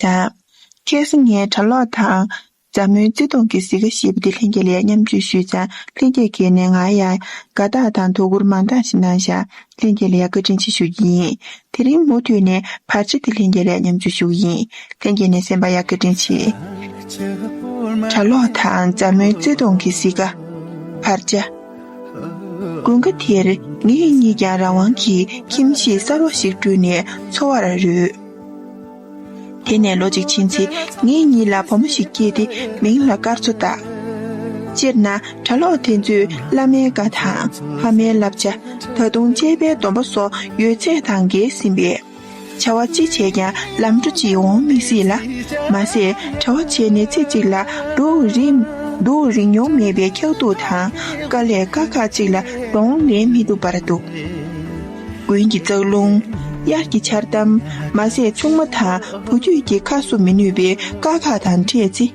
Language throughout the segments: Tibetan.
དང། སྐྱེས་སུ་ངའི་གྲྭ་ལོག་དང། མཛའ་མོའི་བརྩེ་དུང་གི་བཟི་ཁ་ཞེས་པ་འདི་ལྷན་རྒྱས་ལ་ཡང་མཉམ་སྤྱོད་ཞུས་ཙང་ལྷན་རྒྱས་ཁེལ་ནས་ང་ཡང་དགའ་རྟགས་དང་དོ་ཁུར་མང་དག་ཞིག་གནང་ཞིང་ལྷན་རྒྱས་ལ་ཡང་བཀའ་དྲིན་ཆེ་ཞུ་རྒྱུ་ཡིན། དེ་རིང་མུ་མཐུད་ནས་བར་ཆད་དེ་ལྷན་རྒྱས་ལ་ཡང་མཉམ་སྤྱོད་ཞུ་གི་ཡིན། ལྷན་རྒྱས་ནས་སེམས་པ་ཡང་བཀའ་དྲིན་ཆེ། གྲྭ་ལོག་དང་མཛའ་མོའི་བརྩེ་དུང་གི་བཟི་ཁ། བར་ཆད། དགུན་ཁ་དེར་ངེད་གཉིས་ཀྱང་རང་དབང་གི་ཁྱིམ་གཞིས་གསར་བ་ཞིག་བསྐྲུན་ནས་འཚོ་བར་རོལ། དེ་ནས་ལོ་གཅིག་ཕྱིན་ཚེ་ངེད་གཉིས་ལ་བུ་མོ་ཞིག་སྐྱེས་ཏེ་མིང་ལ་སྐར་ཚོ་བཏགས། སྤྱིར་ན་གྲྭ་ལོག་དེ་ཚོས་བླ་མའི་བཀའ་དང་ཕ་མའི་བསླབ་བྱ་ད་དུང་དཔྱད་པའི་སྡོམ་པ་སོགས་ཡོད་ཚད་དང་འགལ་ཟིན་པས། བྱ་བ་ཅི་བྱས་ཀྱང་ལམ་འགྲོ་གཅིག་འོང་མི་སྲིད་ལ། མ་ཟད་གྲྭ་བ་བྱས་ནས་ཚེ་གཅིག་ལ་འགྲོ་འོས་རིགས་འགྲོ་རིན་མྱོང་མེད་པའི་འཁྱག་སྡུག་དང་དཀའ་ལས་དཀའ་ཁག་ཅིག་ལ་གདོང་ལེན་མི་ཐུབ་པར་འདུག། དགུན་གྱི་ཙག་རླུང། དབྱར་གྱི་ཆར་གཏམ། མ་ཟད་ཆུང་མ་དང་བུ་རྒྱུད་ཀྱི་ཁ་བསུབ་མི་ནུས་པའི་དཀའ་ཁག་དང་འཕྲད་ཚེ།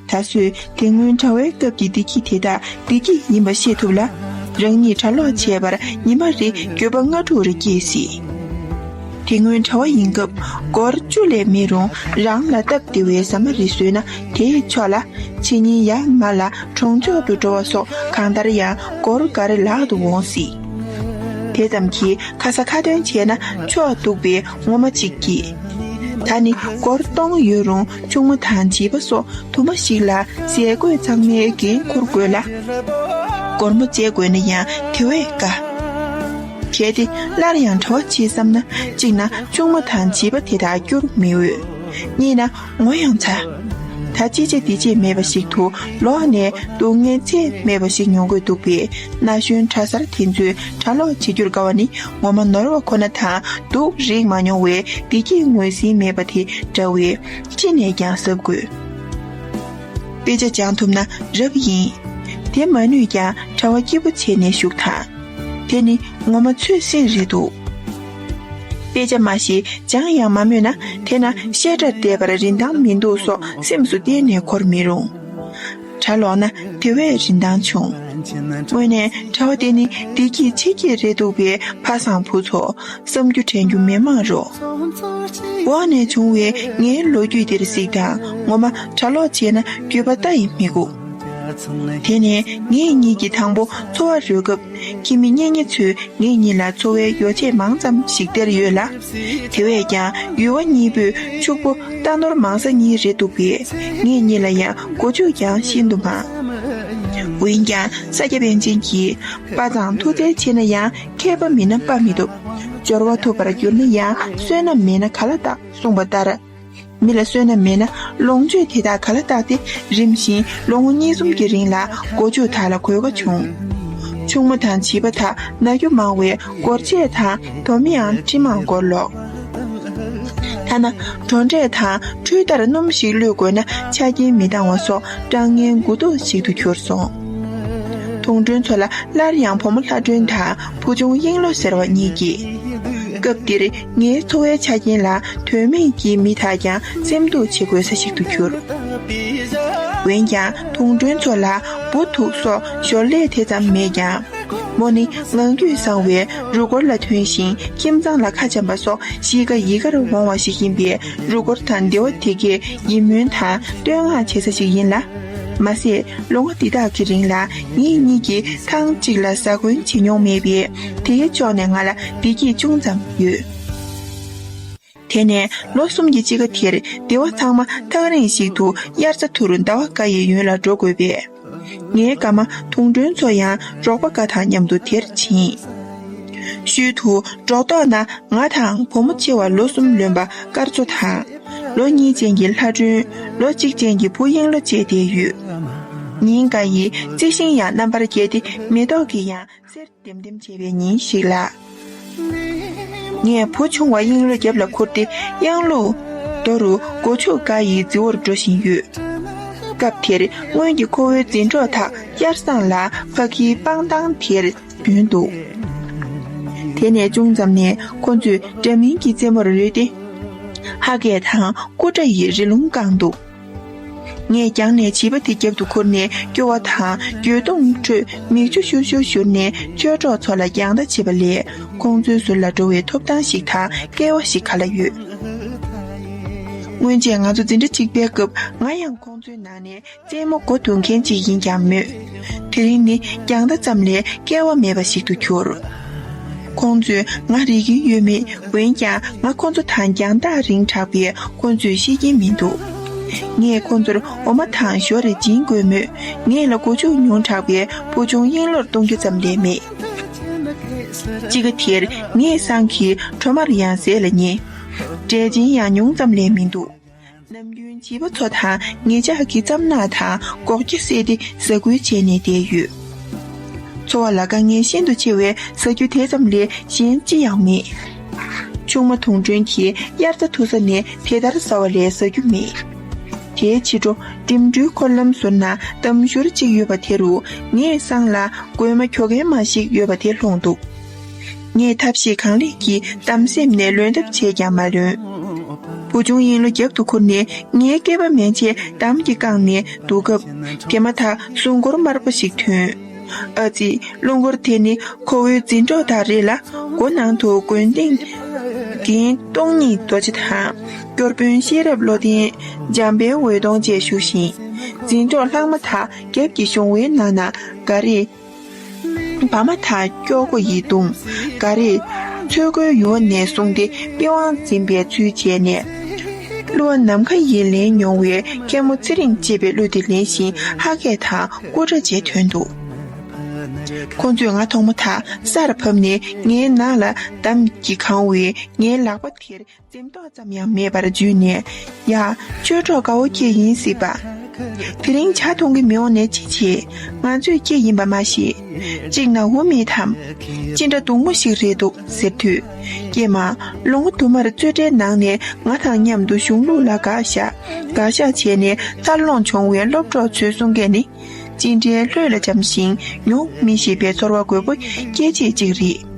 ད་གཟོད་དེ་སྔོན་གྲྭ་བའི་སྐབས་ཀྱི་བདེ་སྐྱིད་དེ་དག་བདེ་སྐྱིད་ཡིན་པ་ཤེས་ཐུབ་ལ། རང་ཉིད་གྲྭ་ལོག་བྱས་པར་ཉི་མ་རེ་འགྱོད་པ་ལྔ་དྲུག་རེ་སྐྱེས་སྲིད། དེ་སྔོན་གྲྭ་བ་ཡིན་སྐབས་སྒོར་བཅུ་ལས་མེད་རུང་རང་ལ་སྟབས་བདེ་བའི་ཟ་མ་རེ་བཟོས་ན་དེས་ཆོག་ལ། ཕྱི་ཉིན་ཡར་མར་ལ་གྲོང་ཆོག་ཏུ་འགྲོ་བ་སོགས་གང་ལྟར་ཡང་སྒོར་འགའ་རེ་ལག་ཏུ་འོང་སྲིད། དེ་ཙམ་གྱིས་ཁ་ས་ཁ་ཏོན་བྱས་ན་ཆོག་འདུག་པས་ངོ་མ་གཅིག་གྱིས། ད་ནི་སྒོར་སྟོང་ཡོད་རུང་ཆུང་མ་དང་བྱིས་པ་སོགས་དུ་མ་ཞིག་ལ་ཟས་གོས་ཚང་མའི་འགན་འཁུར་དགོས་ལ། སྒོར་མོ་བཅད་དགོས་ན་ཡང་དེ་བས་དཀའ། གལ་ཏེ་སླར་ཡང་གྲོ་བྱེད་བསམ་ན་གཅིག་ན་ཆུང་མ་དང་བྱིས་པ་དེ་དག་བསྐྱུར་མི་འོས། གཉིས་ན། ངོ་ཡང་ཚ། ད་ཅི་བྱེད་འདི་བྱེད་མེད་པ་ཞིག་ཏུ་ལོག་ནས་འདུག་ངས་ཚེགས་མེད་པ་ཞིག་མྱོང་དགོས་འདུག་པས་ན་གཞོན་གྲྭ་གསར་དེ་ཚོས་གྲྭ་ལོག་བྱེད་རྒྱུར་དགའ་བ་ནི་ངོ་མ་ནོར་བ་ཁོ་ན་དང་འདུག་རེག་མ་མྱོང་བའི་བདེ་སྐྱིད་ངོས་ཟིན་མེད་པ་དེ་འདྲ་བས་ཅི་ནས་ཀྱང་གཟབ་དགོས། དཔེ་ཆ་སྦྱང་ཐུབ་ན་རབ་ཡིན། དེ་མ་ནུས་ཀྱང་གྲྭ་བ་སྐྱིད་པོ་བྱས་ནས་བཞུགས་དང། དེ་ནི་ངོ་མ་ཆོས་སེང་རེད་འདུག། དཔེ་ཆ་མ་ཞེས་སྦྱང་ཡང་མ་སྨོས་ན་དེ་ན་བཤད་གྲྭ་བསྡད་པར་རིན་ཐང་མི་འདུག་སོགས་སེམས་སུ་གཏན་ནས་འཁོར་མི་རུང། གྲྭ་ལོག་ན་དེ་བས་རིན་ཐང་ཆུང། དངོས་གནས་གྲྭ་བ་དེ་ནི་བདེ་སྐྱིད་ཆེ་སྐྱེད་རེད་འདུག་པས་ཕ་བཟང་བུ་ཚོ་བསམ་རྒྱུ་དྲན་རྒྱུ་མེད་མ་རུང། འོག་ནས་བྱུང་བའི་ངའི་ལོ་རྒྱུས་འདིར་གཟིགས་དང་ངོ་མ་གྲྭ་ལོག་བྱས་ན་འགྱོད་པ་ལྟ་ཡི་མི་སྒུག། དེ་ནས་ངེད་གཉིས་ཀྱི་དང་པོ་འཚོ་བ་རོལ་སྐབས། ཁྱིམ་མི་གཉེན་ཉེ་ཚོས་ངེད་གཉིས་ལ་འཚོ་བའི་ཡོ་བྱད་མང་ཙམ་ཞིག་སྟེར་ཡོད་ལ། དེ་བས་ཀྱང་ཡུལ་བ་གཉིས་པོས་ཕྱུག་པོ་རྟ་ནོར་མང་ས་གཉིས་རེད་འདུག་པས་ངེད་གཉིས་ལ་ཡང་སྒོ་ཕྱུགས་ཀྱང་ཤིན་ཏུ་མང། འོན་ཀྱང་ས་སྐྱ་པཎ་ཆེན་གྱིས་དཔའ་ཚང་མཐུ་རྩལ་ཆེ་ན་ཡང་མཁས་པ་མིན་ན་དཔའ་མི་ཐུབ། འབྱོར་བ་ཐུབ་པར་གྱུར་ན་ཡང་བསོད་ནམས་མེད་ན་ག་ལ་རྟག་གསུངས་པ་ལྟར། མི་ལ་བསོད་ནམས་མེད་ན་ལོངས་སྤྱོད་དེ་དག་ག་ལ་བརྟགས་ཏེ་རིམ་བཞིན་ལོ་ངོ་གཉིས་གསུམ་གྱི་རིང་ལ་མགོ་མཇུག་དག་ལ་གོ་བ་བྱུང། ཕྱུག་མོ་དང་བྱིས་པ་དག་ན་རྒྱུ་མང་བས་སྒོར་ཆས་དང་དོ་མིའང་ཁྲི་མང་སྒོར་ལོག། ཐ་ན་གྲོང་འབྲས་དང་འཕྲུལ་རྟར་སྣུམ་ཞིག་བླུད་དགོས་ན་ཆ་རྐྱེན་མི་འདང་བ་སོགས་སྐྲག་ངན་དགུ་བདོ་ཞིག་ཏུ་གྱུར་སོང། དུང་སྒྲོན་མཚོ་ལ་སླར་ཡང་བུ་མོ་ལྷ་སྒྲོན་དང་བུ་ཆུང་དབྱིངས་བློ་ཟེར་བ་གཉིས་སྐྱེས། སྐབས་འདིར་ངའི་འཚོ་བའི་ཆ་རྐྱེན་ལ་དོན་མེད་ཀྱི་མི་དག་ཀྱང་སེམས་སྡུག་བྱེད་དགོས་ས་ཞིག་ཏུ་གྱུར། འོན་ཀྱང་དུང་སྒྲོན་མཚོ་ལ་འབུ་དུག་སོགས་ཞོར་ལས་དེ་ཙམ་མེད་ཀྱང། མོ་ནི་ངང་རྒྱུད་བཟང་བས་རུ་སྐོར་ལ་ཐོན་ཞིང་ཁྱིམ་ཚང་ལ་ཁ་འབྱམས་པ་སོགས་གཤིས་ཀ་ཡི་གར་འོང་བ་ཞིག་ཡིན་པས་རུ་སྐོར་དང་སྡེ་བ་དེ་གའི་ཡིད་སྨོན་དང་བསྟོད་བསྔགས་བྱེད་ས་ཞིག་ཡིན་ལ། མ་ཟད་ལོ་ངོ་འདི་དག་གི་རིང་ལ་ངེད་གཉིས་ཀྱིས་ཐང་གཅིག་ལ་ཟ་གོན་བྱེད་མྱོང་མེད་པས། དེའི་ཕྱོགས་ནས་ང་ལ་བདེ་སྐྱིད་ཅུང་ཙམ་ཡོད། དེ་ནས་ལོ་གསུམ་གྱི་དཔྱིད་ཀ་དེར་སྡེ་བ་ཚང་མ་ཐག་རིང་ཞིག་ཏུ་དབྱར་རྩྭ་འཐུ་རུ་ཟླ་བ་འགའ་ཡི་ཡུན་ལ་འགྲོ་དགོས་པས། ངའི་དགའ་མ་དུང་སྒྲོན་ཚོ་ཡང་འབྲོག་པ་འགའ་དང་མཉམ་དུ་དེར་ཕྱིན། ཤུལ་དུ་འགྲོ་དོགས་ན་ང་དང་བུ་མོ་ཆེ་བ་ལོ་གསུམ་ལོན་པ་སྐར་མཚོ་དང། ལོ་གཉིས་ཅན་གྱི་ལྷ་སྒྲོན། ལོ་གཅིག་ཅན་གྱི་བུ་གཡེང་ལོ་བཅས་བསྡད་ཡོད། ཉིན་འགའ་ཡིས་རྩི་ཤིང་ཡང་རྣམ་པར་རྒྱས་ཏེ་མེ་ཏོག་གི་ཡང། གསེར་ལྡེམ་ལྡེམ་བྱེད་པའི་ཉིན་ཞིག་ལ། ངས་བུ་ཆུང་བ་གཡེང་ལོ་རྒྱབ་ལ་འཁུར་ཏེ་གཡང་ལོ། རྡོ་རུ་སྒོ་ཕྱུགས་འགའ་ཡི་རྫི་བོར་འགྲོ་བཞིན་ཡོད། སྐབས་དེར་སྔོན་གྱི་ཁོ་བོའི་འཛིན་གྲོགས་དག་དབྱར་སྲང་ལ་ཕ་གིའི་སྤང་ཐང་དེར་རྒྱུན་འདུག། དེ་ནས་ཅུང་ཙམ་ནས་ཁོ་ཚོས་འདྲ་མིན་གྱི་རྩེད་མོར་རོལ་ཏེ། ཧ་གས་དང་ཀུ་དགྲ་ཡི་རི་ལུང་བཀང་འདུག། ངས་རྒྱང་ནས་བྱིས་པ་དེ་རྒྱབ་ཏུ་ཁུར་ནས་སྐྱོ་བ་དང་འགྱོད་གདུང་མིག་ཁྲོད་མིག་ཆུ་ཤུར་ཤུར་བཞུར་ནས་ཆོས་གྲོགས་ཚོ་ལ་རྒྱང་ལྟ་བྱེད་པ་ལས་ཁོང་ཚོའི་ཟུར་ལ་འགྲོ་བའི་ཐོབ་ཐང་ཞིག་དང་སྐལ་བ་ཞིག་ག་ལ་ཡོད། སྔོན་ཆད་ང་ཚོ་འཛིན་གྲྭ་གཅིག་པའི་སྐབས་ང་ཡང་ཁོང་ཚོའི་ནང་ནས་རྩེད་མོ་མགོ་བསྡུ་མཁན་ཅིག་ཡིན་ཀྱང་མོད། དེ་རིང་ནི་རྒྱང་ལྟ་ཙམ་ལས་སྐལ་བ་མེད་པ་ཞིག་ཏུ་གྱུར། ཁོང་ཚོས་ང་རིག་གིན་ཡོད་མེད་འོན་ཀྱང་ང་ཁོང་ཚོ་དང་རྒྱང་ཐག་རིང་དྲགས་པས་ཁོང་ཚོས་ཤེས་ཀྱིན་མི་འདུག་ངས་ཁོང་ཚོར་འོ་མ་དང་ཞོ་རེ་སྦྱིན་དགོས་མོད་ངེད་ལ་སྒོ་ཕྱུགས་ཉུང་དྲགས་པས་བུ་ཆུང་གཡེང་ལོར་གཏོང་རྒྱུ་ཙམ་ལས་མེད། དཔྱིད་ཀ་དེར་ངས་སང་གི་གྲོ་མར་ཡང་ཟས་ལ་ཉེ། འབྲས་ཆན་ཡང་ཉུང་ཙམ་ལས་མི་འདུག། ནམ་རྒྱུན་བྱིས་པ་ཚོ་དང་ངེད་ཅག་གིས་རྩམ་ནག་དང་སྒོག་སྐྱ་བསྲེས་ཏེ་ཟ་ཁུལ་བྱས་ནས་བསྡད་ཡོད། འཚོ་བ་ལ་དཀའ་ངལ་ཤིན་ཏུ་ཆེ་བས་ཟ་རྒྱུ་དེ་ཙམ་ལས་གཞན་ཅི་ཡང་མེད། ཆུང་མ་དུང་སྒྲོན་གྱིས་དབྱར་རྩྭ་འཐུ་ས་ནས་དེ་ལྟར་ཟ་བ་ལས་ཟ་རྒྱུ་མེད། དེའི་ཕྱི་དྲོ་འགྲིམ་འགྲུལ་འཁོར་ལམ་ཟུར་ན་འདམ་ཞོར་ཅིག་ཡོད་པ་དེ་རུ་ངེད་སང་ལ་རྒོད་མ་ཁྱོ་གན་མ་ཞིག་ཡོད་པ་དེ་ལྷུང་འདུག་ངས་ཐབས་ཤེས་གང་ལེགས་ཀྱིས་གཏམ་སེམས་ནས་ལོན་ཐབས་བྱས་ཀྱང་མ་ལོན། བུ་ཆུང་ཡིན་ལོ་རྒྱབ་ཏུ་ཁུར་ནས་ངའི་སྐེད་པ་མན་ཆད་འདམ་གྱིས་བཀང་ནས་འདུག་སྐབས། དེ་མ་ཐག་སྲུང་འཁོར་དམར་པོ་ཞིག་ཐོན། ཨ་ཙི། སློང་འཁོར་དེ་ནི་ཁོ་བོའི་འཛིན་གྲོགས་དག་རེད་ལ། སྒོ་ནང་དུ་དགོན་སྡེ། འདིའི་སྟོང་ཉིད་རྡོ་རྗེ་དང། སྐྱོར་དཔོན་ཤེས་རབ་བློ་ལྡན། འཇམ་དཔལ་འོད་སྟོང་བཅས་བཞུགས་ཤིང། འཛིན་གྲོགས་ལྷག་མ་དག་རྒྱབ་ཀྱི་གཞོང་བའི་ནང་ན་འགའ་རེས། བ་མ་ཐག་སྐྱོ་སྒོ་ཡིད་གདུང་འགའ་རེས། ཚོད་དགོས་ཡུ་བ་ནས་བཟུང་སྟེ་པི་ཝང་འཛིན་པའི་ཚུལ་བྱས་ནས། གླུ་བ་ནམ་མཁའ་ཡིས་ལེན་མྱོང་བའི་མཁན་མོ་ཚེ་རིང་ཅེས་པའི་གླུ་དེ་ལེན་བཞིན་ཧ་སྐད་དང་སྐུ་སྒྲ་བཅས་ཐོན་འདུག་ཁོང་ཚོས་ང་མཐོང་མ་ཐག་སར་ཕབ་ནས་ངའི་ནག་ལ་འདམ་གྱིས་གང་བས་ངའི་ལག་པ་དེར་འཛེམ་དོགས་ཙམ་ཡང་མེད་པར་འཇུས་ནས་ཡ། ཅོལ་གྲོགས་དགའ་བོ་ཁྱེད་ཡིན་སྲིད་པ། དེ་རིང་བྱ་མཐོང་གི་མི་འོང་ནས་ཅི་བྱེད། ང་ཚོས་ཁྱེད་ཡིན་པ་མ་ཤེས། གཅིག་ན་འོ་མེད་དམ། ཅི་འདྲ་སྡུག་མོ་ཞིག་རེད་འདུག་ཟེར་དུས། ཀྱེ་མ། ལོ་ངོ་དུ་མར་རྩོད་གྲྭའི་ནང་ནས་ང་དང་མཉམ་དུ་གཞུང་ལུགས་ལ་དགག་བཞག་དགག་བཞག་བྱས་ནས་འཚར་ལོངས་བྱུང་བའི་སློབ་གྲོགས་ཚོའི་གསུང་སྐད་ནི། ཅི་འདྲའི་ལྷོད་ལ་འཇམ་ཞིང་མྱོང་མི་ཤེས་པའི་ཚོར་བ་རྒོད་པོ་སྐྱེད་བྱེད་ཅིག་རེད།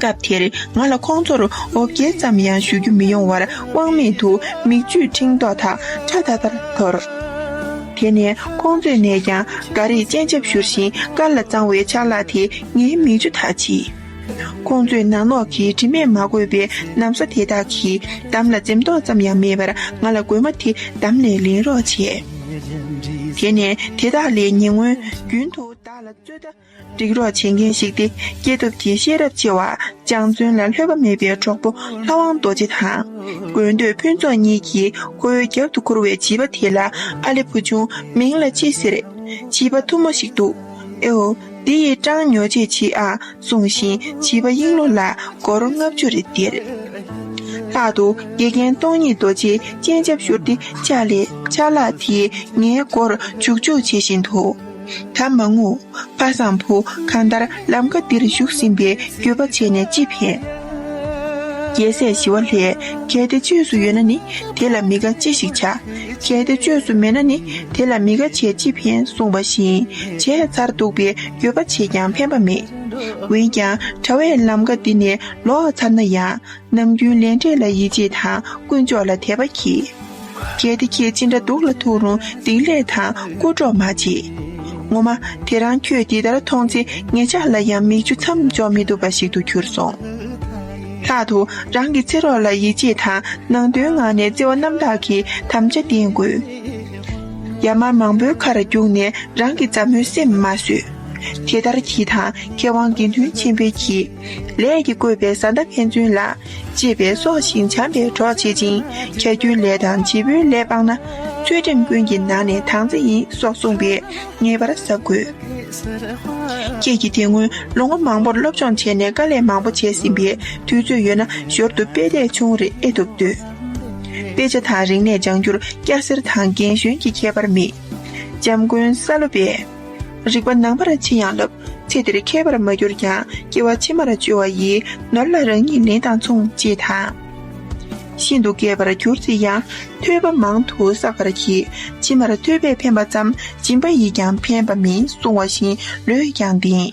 སྐབས་དེར་ང་ལ་ཁོང་ཚོར་འོ་བརྒྱལ་ཙམ་ཡང་ཞུ་རྒྱུ་མི་ཡོང་བར་དབང་མེད་དུ་མིག་ཆུས་འཕྲེང་མདོག་དག་ཁྲ་ཐར་ཐར་འཐོར། དེ་ནས་ཁོང་ཚོས་ནས་ཀྱང་འགའ་རེས་སྤྱན་ཆབ་བཞུར་བཞིན་དཀར་ལ་གཙང་བའི་ཆ་ལག་དེ་ངའི་མིག་ཆུ་དག་ཕྱིས། ཁོང་ཚོས་ནག་ནོག་གི་དྲི་མས་མ་གོས་པའི་གནམ་ས་དེ་དག་གི་འདམ་ལ་འཛེམ་དོགས་ཙམ་ཡང་མེད་པར་ང་ལ་རྒོད་མ་དེ་བདམས་ནས་ལེན་རོགས་བྱས། དེ་ནས་དེ་དག་ལས་ཉེ་སྔོན་རྒྱུན་དུ་བདག་ལ་རྩོད་ཟླ་སྒྲིག་རོགས་བྱེད་མཁན་ཞིག་སྟེ་སྐྱེས་ཐོབ་ཀྱི་ཤེས་རབ་ཆེ་བ་སྤྱང་བརྩོན་ལ་ལྷོད་པ་མེད་པའི་གྲོགས་པོ་ལྷ་དབང་རྡོ་རྗེ་དང། དགོས་འདོད་ཕུན་ཚོགས་གཉིས་ཀྱིས་ཁོའི་རྒྱབ་ཏུ་འཁུར་བའི་བྱིས་པ་དེ་ལ་ཨ་ལེ་བུ་ཆུང་མིང་ལ་ཅི་ཟེར། བྱིས་པ་ཐུ་མོ་ཞིག་འདུག་ཨེའོ། འདི་ཡི་གྲངས་ཉོ་བྱེད་མཆིས་ཨང་གསུངས་ཤིང་བྱིས་པ་དབྱིངས་ལོ་ལ་སྒོར་ལྔ་བཅུ་རེ་སྟེར། ལྷག་ཏུ་དགེ་རྒན་སྟོང་ཉིད་རྡོ་རྗེའི་སྤྱན་ཆབ་བཞུར་ཏེ་ལྕགས་ལས་ལྕགས་ལག་དེས་ངའི་སྒོར་འཇུག་འཇུག་བྱེད་བཞིན་དུ། ད་མ་ངུ། ཕ་བཟང་བུ་གང་ལྟར་ལམ་ཁ་འདིར་བཞུགས་ཟིན་པའི་འགྱོད་པ་བྱས་ནས་ཅི་ཕན། རྒྱལ་སྲས་ཞི་བ་ལྷས་གལ་ཏེ་བཅོས་སུ་ཡོད་ན་ནི་དེ་ལ་མི་དགའ་ཅི་ཞིག་བྱ། བྱས་ཏེ་བཅོས་སུ་མེད་ན་ནི་དེ་ལ་མི་དགའ་བྱས་ཅི་ཕན་གསུངས་པ་བཞིན་བྱས་ཚར་འདུག་པས་འགྱོད་པ་བྱས་ཀྱང་ཕན་པ་མེད། འོན་ཀྱང་གྲྭ་བས་ལམ་ཀ་འདི་ནས་ལོག་ཚར་ན་ཡང་ནམ་རྒྱུན་ལས་འབྲས་ལ་ཡིད་ཆེས་དང་དཀོན་མཆོག་ལ་དད་པ་གྱིས། གལ་ཏེ་ཁྱེད་ཅི་འདྲ་སྡུག་ལ་ཐུག་རུང་སྡིག་ལས་དང་རྐུ་འཕྲོག་མ་བྱེད། ངོ་མ་དེ་རང་ཁྱོད་འདི་ལྟར་མཐོང་ཚེ་ངེད་ཅག་ལ་ཡང་མིག་ཆུ་མཚམས་འཇོག་མི་ཐུབ་པ་ཞིག་ཏུ་གྱུར་སོང། ལྷག་ཏུ་རང་གི་ཚེ་རོགས་ལ་ཡིད་ཆེས་དང་ནང་དོན་ངང་ནས་བརྩེ་བ་རྣམ་དག་གིས་དམ་བཅའ་བརྟེན་དགོས། ཡར་མར་མང་པོའི་ཁ་ར་བརྒྱུགས་ནས་རང་གི་མཛའ་མོའི་སེམས་མ་གསོད། དེ་ལྟར་གྱིས་དང་མཁས་དབང་དགེ་འདུན་ཆེན་པོས་གྱིས། ལས་ཀྱི་བཀོད་པའི་བཟའ་ཟླ་ཕན་ཚུན་ལ། ཅེས་པས་སྲོག་ཤིང་བྱམས་པའི་གྲོགས་བྱེད་ཅིང་ཁྱད་རྒྱུན་ལས་དང་བྱེད་པོའི་ལས་སྤངས་ན། ཚུལ་ཁྲིམས་ཀུན་གྱི་ནང་ནས་དྭངས་གཙང་ཡིན་སོགས་གསུངས་པས་ངེས་པར་གཟབ་དགོས། ཁྱེད་ཀྱིས་དེ་སྔོན་ལོ་ངོ་མང་པོར་སློབ་སྦྱོང་བྱས་ནས་དཀའ་ལས་མང་པོ་བྱས་ཟིན་པས་དུས་ཚོད་ཡོད་ན་ཞོར་དུ་དཔེ་དེབ་ཆུང་རེ་ཨེ་ཐུབ་འདོད། དཔེ་ཆ་དང་རིག་གནས་སྦྱང་རྒྱུར་སྐྱ་སེར་དང་རྒན་གཞོན་གྱི་ཁྱད་པར་མེད། འཇམ་མགོན་ས་ལོ་པས། རིག་པ་ནང་པར་ཕྱིན་ཡང་བསླབ་ཚེ་དེར་མཁས་པར་མ་གྱུར་ཀྱང་སྐྱེ་བ་ཕྱི་མར་བཅོལ་བ་ཡིས་ནོར་ལ་རང་ཉིད་ལེན་དང་མཚུངས་ཅེས་དང། ཤིན་ཏུ་རྒས་པར་གྱུར་ཅིག་ཡང་ཐོད་པ་མང་དུ་བསགས་པར་གྱིས་ཕྱི་མར་ཐོད་པས་ཕན་པ་ཙམ་སྦྱིན་པ་ཡིས་ཀྱང་ཕན་པ་མིན་བསྲུང་བ་བཞིན་ལུས་ཀྱང་ལྡིང།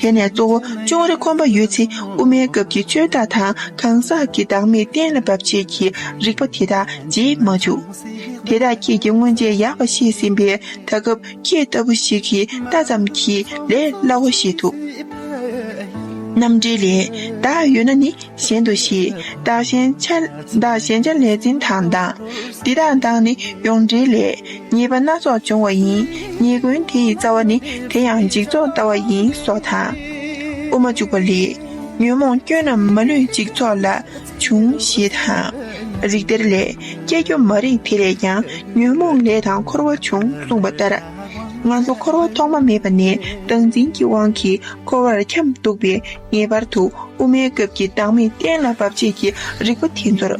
དེ་ནས་གཙོ་བོ་ཅོང་རི་ཁོམ་པ་ཡོད་ཚེ་དབུ་མའི་སྐབས་ཀྱི་ཆོས་བདག་དང་གང་ཟག་གི་བདག་མེད་གཏན་ལ་འབབ་བྱེད་ཀྱི་རིགས་པ་དེ་དག་རྗེས་མ་འཇུག། དེ་དག་ཁྱེད་ཀྱིས་སྔོན་ཆད་ཡག་པ་ཤེས་ཟིན་པས་ད་སྐབས་ཁྱེད་ལྟ་བུ་ཞིག་གིས་ལྟ་ཙམ་གྱིས་ལས་སླ་བོ་ཤེས་ཐུབ། རྣམ་འགྲེལ་ལས། བདག་ཡོད་ན་ནི། གཞན་དུ་བཞི། བདག་གཞན་ཆ། བདག་གཞན་ཆ་ལས་འཛིན་དང་བདག། འདི་དང་བདག་ནི་ཡོངས་འབྲེལ་ལས། ཉེས་པ་སྣ་ཚོགས་འབྱུང་བ་ཡིན། ཉེས་ཀུན་དེ་ཡི་རྩ་བ་ནི། དེ་ཡང་འཇིག་ཚོགས་ལྟ་བ་ཡིན་སོགས་དང། དབུ་མ་བཅུག་པ་ལས། ཉོན་མོངས་སྐྱོན་རྣམས་མ་ལུས་འཇིག་ཚོགས་ལ། འབྱུང། ཞེས་དང། རིགས་གཏེར་ལས། སྐྱེ་རྒྱུ་མ་རིག་དེ་ལས་ཀྱང་ཉོན་མོངས་ལས་དང་འཁོར་བ་འབྱུང་གསུངས་པ་ལྟར། ང་ཚོ་འཁོར་བ་ཐོག་མ་མེད་པ་ནས་བདག་འཛིན་གྱི་དབང་གིས་འཁོར་བར་འཁྱམས་འདུག་པས། ངེས་པར་དུ་དབུ་མའི་སྐབས་ཀྱི་བདག་མེད་གཏན་ལ་དབབ་བྱེད་ཀྱི་རིག་པ་དེ་ཚོར་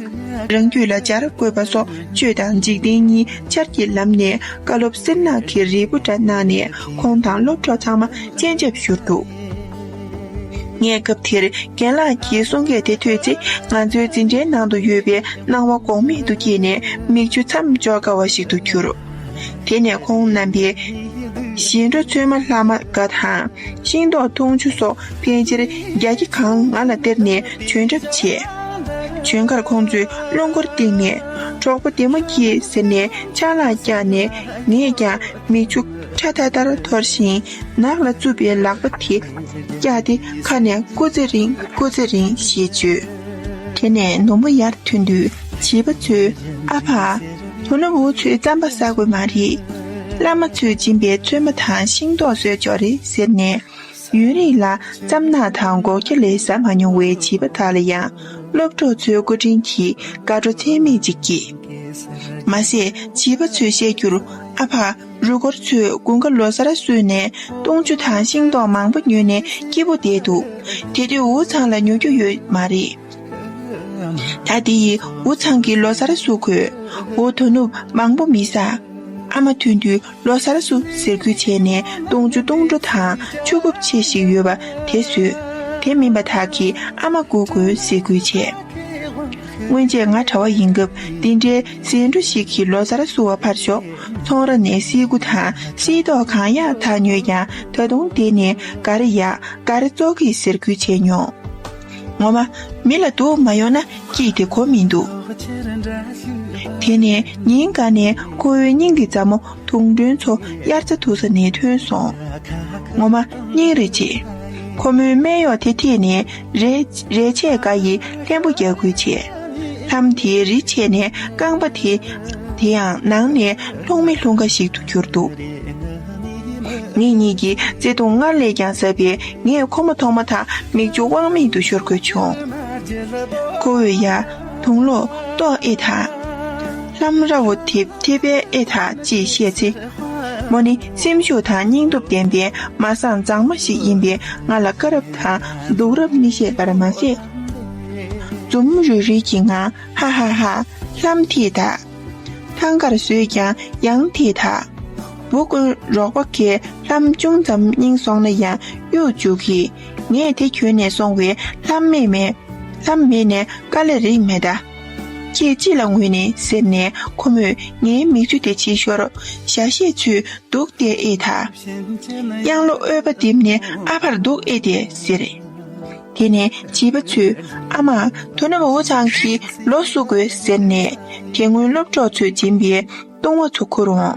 རང་རྒྱུད་ལ་སྦྱར་དགོས་པ་སོགས་ཆོས་དང་འཇིག་རྟེན་གཉིས་ཆར་གྱི་ལམ་ནས་བཀའ་སློབ་སེར་ནག་གི་རིལ་བུ་འདྲ་གནང་ནས་ཁོང་དང་སློབ་གྲོགས་ཚང་མ་སྤྱན་ཆབ་བཞུར་འདུག་ངས་སྐབས་དེར་རྒན་ལགས་ཀྱི་གསུང་སྐད་དེ་ཐོས་ཚེ་ང་ཚོའི་འཛིན་གྲྭའི་ནང་དུ་ཡོད་པའི་སྣང་བ་འགོག་མེད་དུ་སྐྱེས་ནས་མིག་ཆུ་མཚམས་འཇོག་དཀའ་བ་ཞིག་ཏུ་གྱུར། དེ་ནས་ཁོང་རྣམ་པས། བཞིན་འགྲོ་ཚོད་མ་ལྷ་མ་འགའ་དང། ཤིང་ཏོག་འཐུང་ཆུ་སོགས་ཕལ་ཆེར་རྒྱ་ཁྱི་གང་ང་ལ་སྟེར་ནས་བྱོན་གྲབས་བྱས། བྱོན་ཁར་ཁོང་ཚོས་རླུང་འཁོར་བཏེགས་ནས། གྲོགས་པོ་འདི་མ་སྐྱིད་ཟེར་ནས་ཆ་ལག་བཀྱགས་ནས་ངས་ཀྱང་མིག་ཆུ་ཁྲ་ཐར་ཐར་འཐོར་ཞིང་ནགས་ལ་རྩུབ་པའི་ལག་པ་དེ་བཀྱགས་ཏེ་ཁ་ནས་སྐུ་ཚེ་རིང་སྐུ་ཚེ་རིང་ཞེས་བརྗོད། དེ་ནས་ནུབ་མོ་ཡར་ཐོན་དུས་བྱིས་པ་ཚོས་ཨ་ཕ། བུ་ནོར་བུ་ཚོའི་རྩམ་པ་ཟ་དགོས་མ་རེད། བླ་མ་ཚོས་སྦྱིན་པའི་བཙོས་མ་དང་ཤིང་ཏོག་ཟོས་ཆོག་རེད་ཟེར་ནས། ཡུན་རིང་ལ་རྩམ་ནག་དང་སྒོག་སྐྱ་ལས་ཟ་མ་མྱོང་བའི་བྱིས་པ་དག་ལ་ཡང་སློབ་གྲོགས་ཚོའི་སྐུ་དྲིན་གྱིས་དགའ་སྤྲོ་ཚད་མེད་ཅིག་སྐྱེས། མ་ཟད་བྱིས་པ་ཚོས་བཤད་རྒྱུར་ཨ་ཕ་རུ་སྒོར་ཚོས་དགུན་ཁ་ལོ་སར་བསོད་ནས་བཏུང་ཆུ་དང་ཤིང་ཏོག་མང་པོ་ཉོས་ནས་སྐྱིད་པོ་བསྡད་འདུག་དེ་དུས་འུ་ཚང་ལ་ཉོ་རྒྱུ་ཡོད་མ་རེད། ད་དེ་ཡི་འུ་ཚང་གི་ལོ་སར་སུ་ཁོས་འོ་དོ་ནུབ་མང་པོ་མི་ཟ། ཨ་མ་ཐུན་དུས་ལོ་སར་སུ་ཟེར་ཁུལ་བྱས་ནས་སྟོང་ཆུ་སྟོང་འགྲོ་དང་ཆུ་རྐུབ་ཆེ་ཞིག་ཡོད་པ་དེ་ཟོས། དེ་མིན་པ་དག་གིས་ཨ་མ་སྒུག་དགོས་ཟེར་ཁུལ་བྱས། སྔོན་ཆད་ང་གྲྭ་བ་ཡིན་སྐབས་འདི་འདྲའི་ཟེའི་འབྲུ་ཞིག་གིས་ལོ་སར་སུ་བ་ཕར་ཞོག་ཚོང་ར་ནས་སིལ་ཁུ་དང་སིལ་ཏོག་གང་ཡག་དག་ཉོས་ཀྱང་ད་དུང་དེ་ནི་འགའ་རེ་ཡག་འགའ་རེ་བཙོག་གི་ཟེར་ཁུལ་བྱས་མྱོང། ངོ་མ། མི་ལ་དུག་མ་ཡོང་ན་སྐྱིད་དེ་གོ་མི་འདུག། དེ་ནས་ཉིན་འགའ་ནས་ཁོ་བོའི་སྙིང་གི་མཛའ་མོ་དུང་སྒྲོན་མཚོ་དབྱར་རྩྭ་འཐུ་ས་ནས་ཐོན་སོང། ངོ་མ། སྙིང་རེ་རྗེ། ཁོ་མོའི་སྨད་གཡོག་དེ་ཐེད་ནས་རེ། རེ་ཆད་འགའ་ཡིས་ལྷན་པོ་རྒྱག་ཁུལ་བྱས། ལྷམ་དེའི་རི་ཕྱེད་ནས་རྐང་པ་དེ། དེའང་ནང་ནས་ལྷུང་མི་ལྷུང་འགའ་ཞིག་ཏུ་གྱུར་འདུག། ངེད་གཉིས་ཀྱིས་བརྩེ་དུང་སྔར་ལས་ཀྱང་ཟབ་པས་ངས་ཁོ་མོ་མཐོང་མ་ཐག་མིག་ཆུ་དབང་མེད་དུ་ཤོར་དགོས་བྱུང། ཁོ་བོས་ཡ། དུང་ལོ། ཏོག་ཨེ་ཐ། ལྷམ་ར་བོ་དེ་ཐེ་པེ་ཨེ་ཐ་ཅེས་བཤད་ཚེ། མོ་ནི་སེམས་ཤུགས་དང་སྙིང་སྟོབས་ལྡན་པའི་མ་སངས་མཛངས་མ་ཞིག་ཡིན་པས་ང་ལ་དཀའ་རབས་དང་སྡུག་རབས་མི་ཤེས་པར་མ་ཟད། འཛུམ་རིལ་རིལ་གྱི་ངང་ཧཧཧ། ལྷམ་ཐེ་ཐ། ཐང་གར་བཟོས་ཀྱང་ཡང་དེས་དག། འབུ་དཀོན་རོགས་པ་ཁའི་གཏམ་ཅུང་ཙམ་རྙིང་སོང་ན་ཡང་གཡོ་འཇུག་གི། ངས་དེ་གྱོན་ནས་སོང་བས་ལྷམ་མེད་མེད། ལྷམ་མེད་ནས་དཀའ་ལས་རིགས་མེད་གདའ། ཁྱེད་ཅི་ལ་ངུས་ནི་ཟེར་ནས་ཁོ་མོས་ངའི་མིག་ཆུ་དེ་ཕྱིས་ཤོར། ཞྭ་བཤས་ཚུལ་འདུག་སྟེ་ཨེ་ད། གཡང་ལོ་ཨོལ་པ་བསྡིབས་ནས་ཨ་ཕར་འདུག་ཨེ་དེ་ཟེར། དེ་ནས་བྱིས་པ་ཚོས་ཨ་མ་དོ་ནུབ་འུ་ཚང་གི་ལོ་བསུ་དགོས་ཟེར་ནས་དེ་སྔོན་སློབ་གྲོགས་ཚོས་སྦྱིན་པའི་བཏུང་བ་ཚོ་ཁུར་འོང།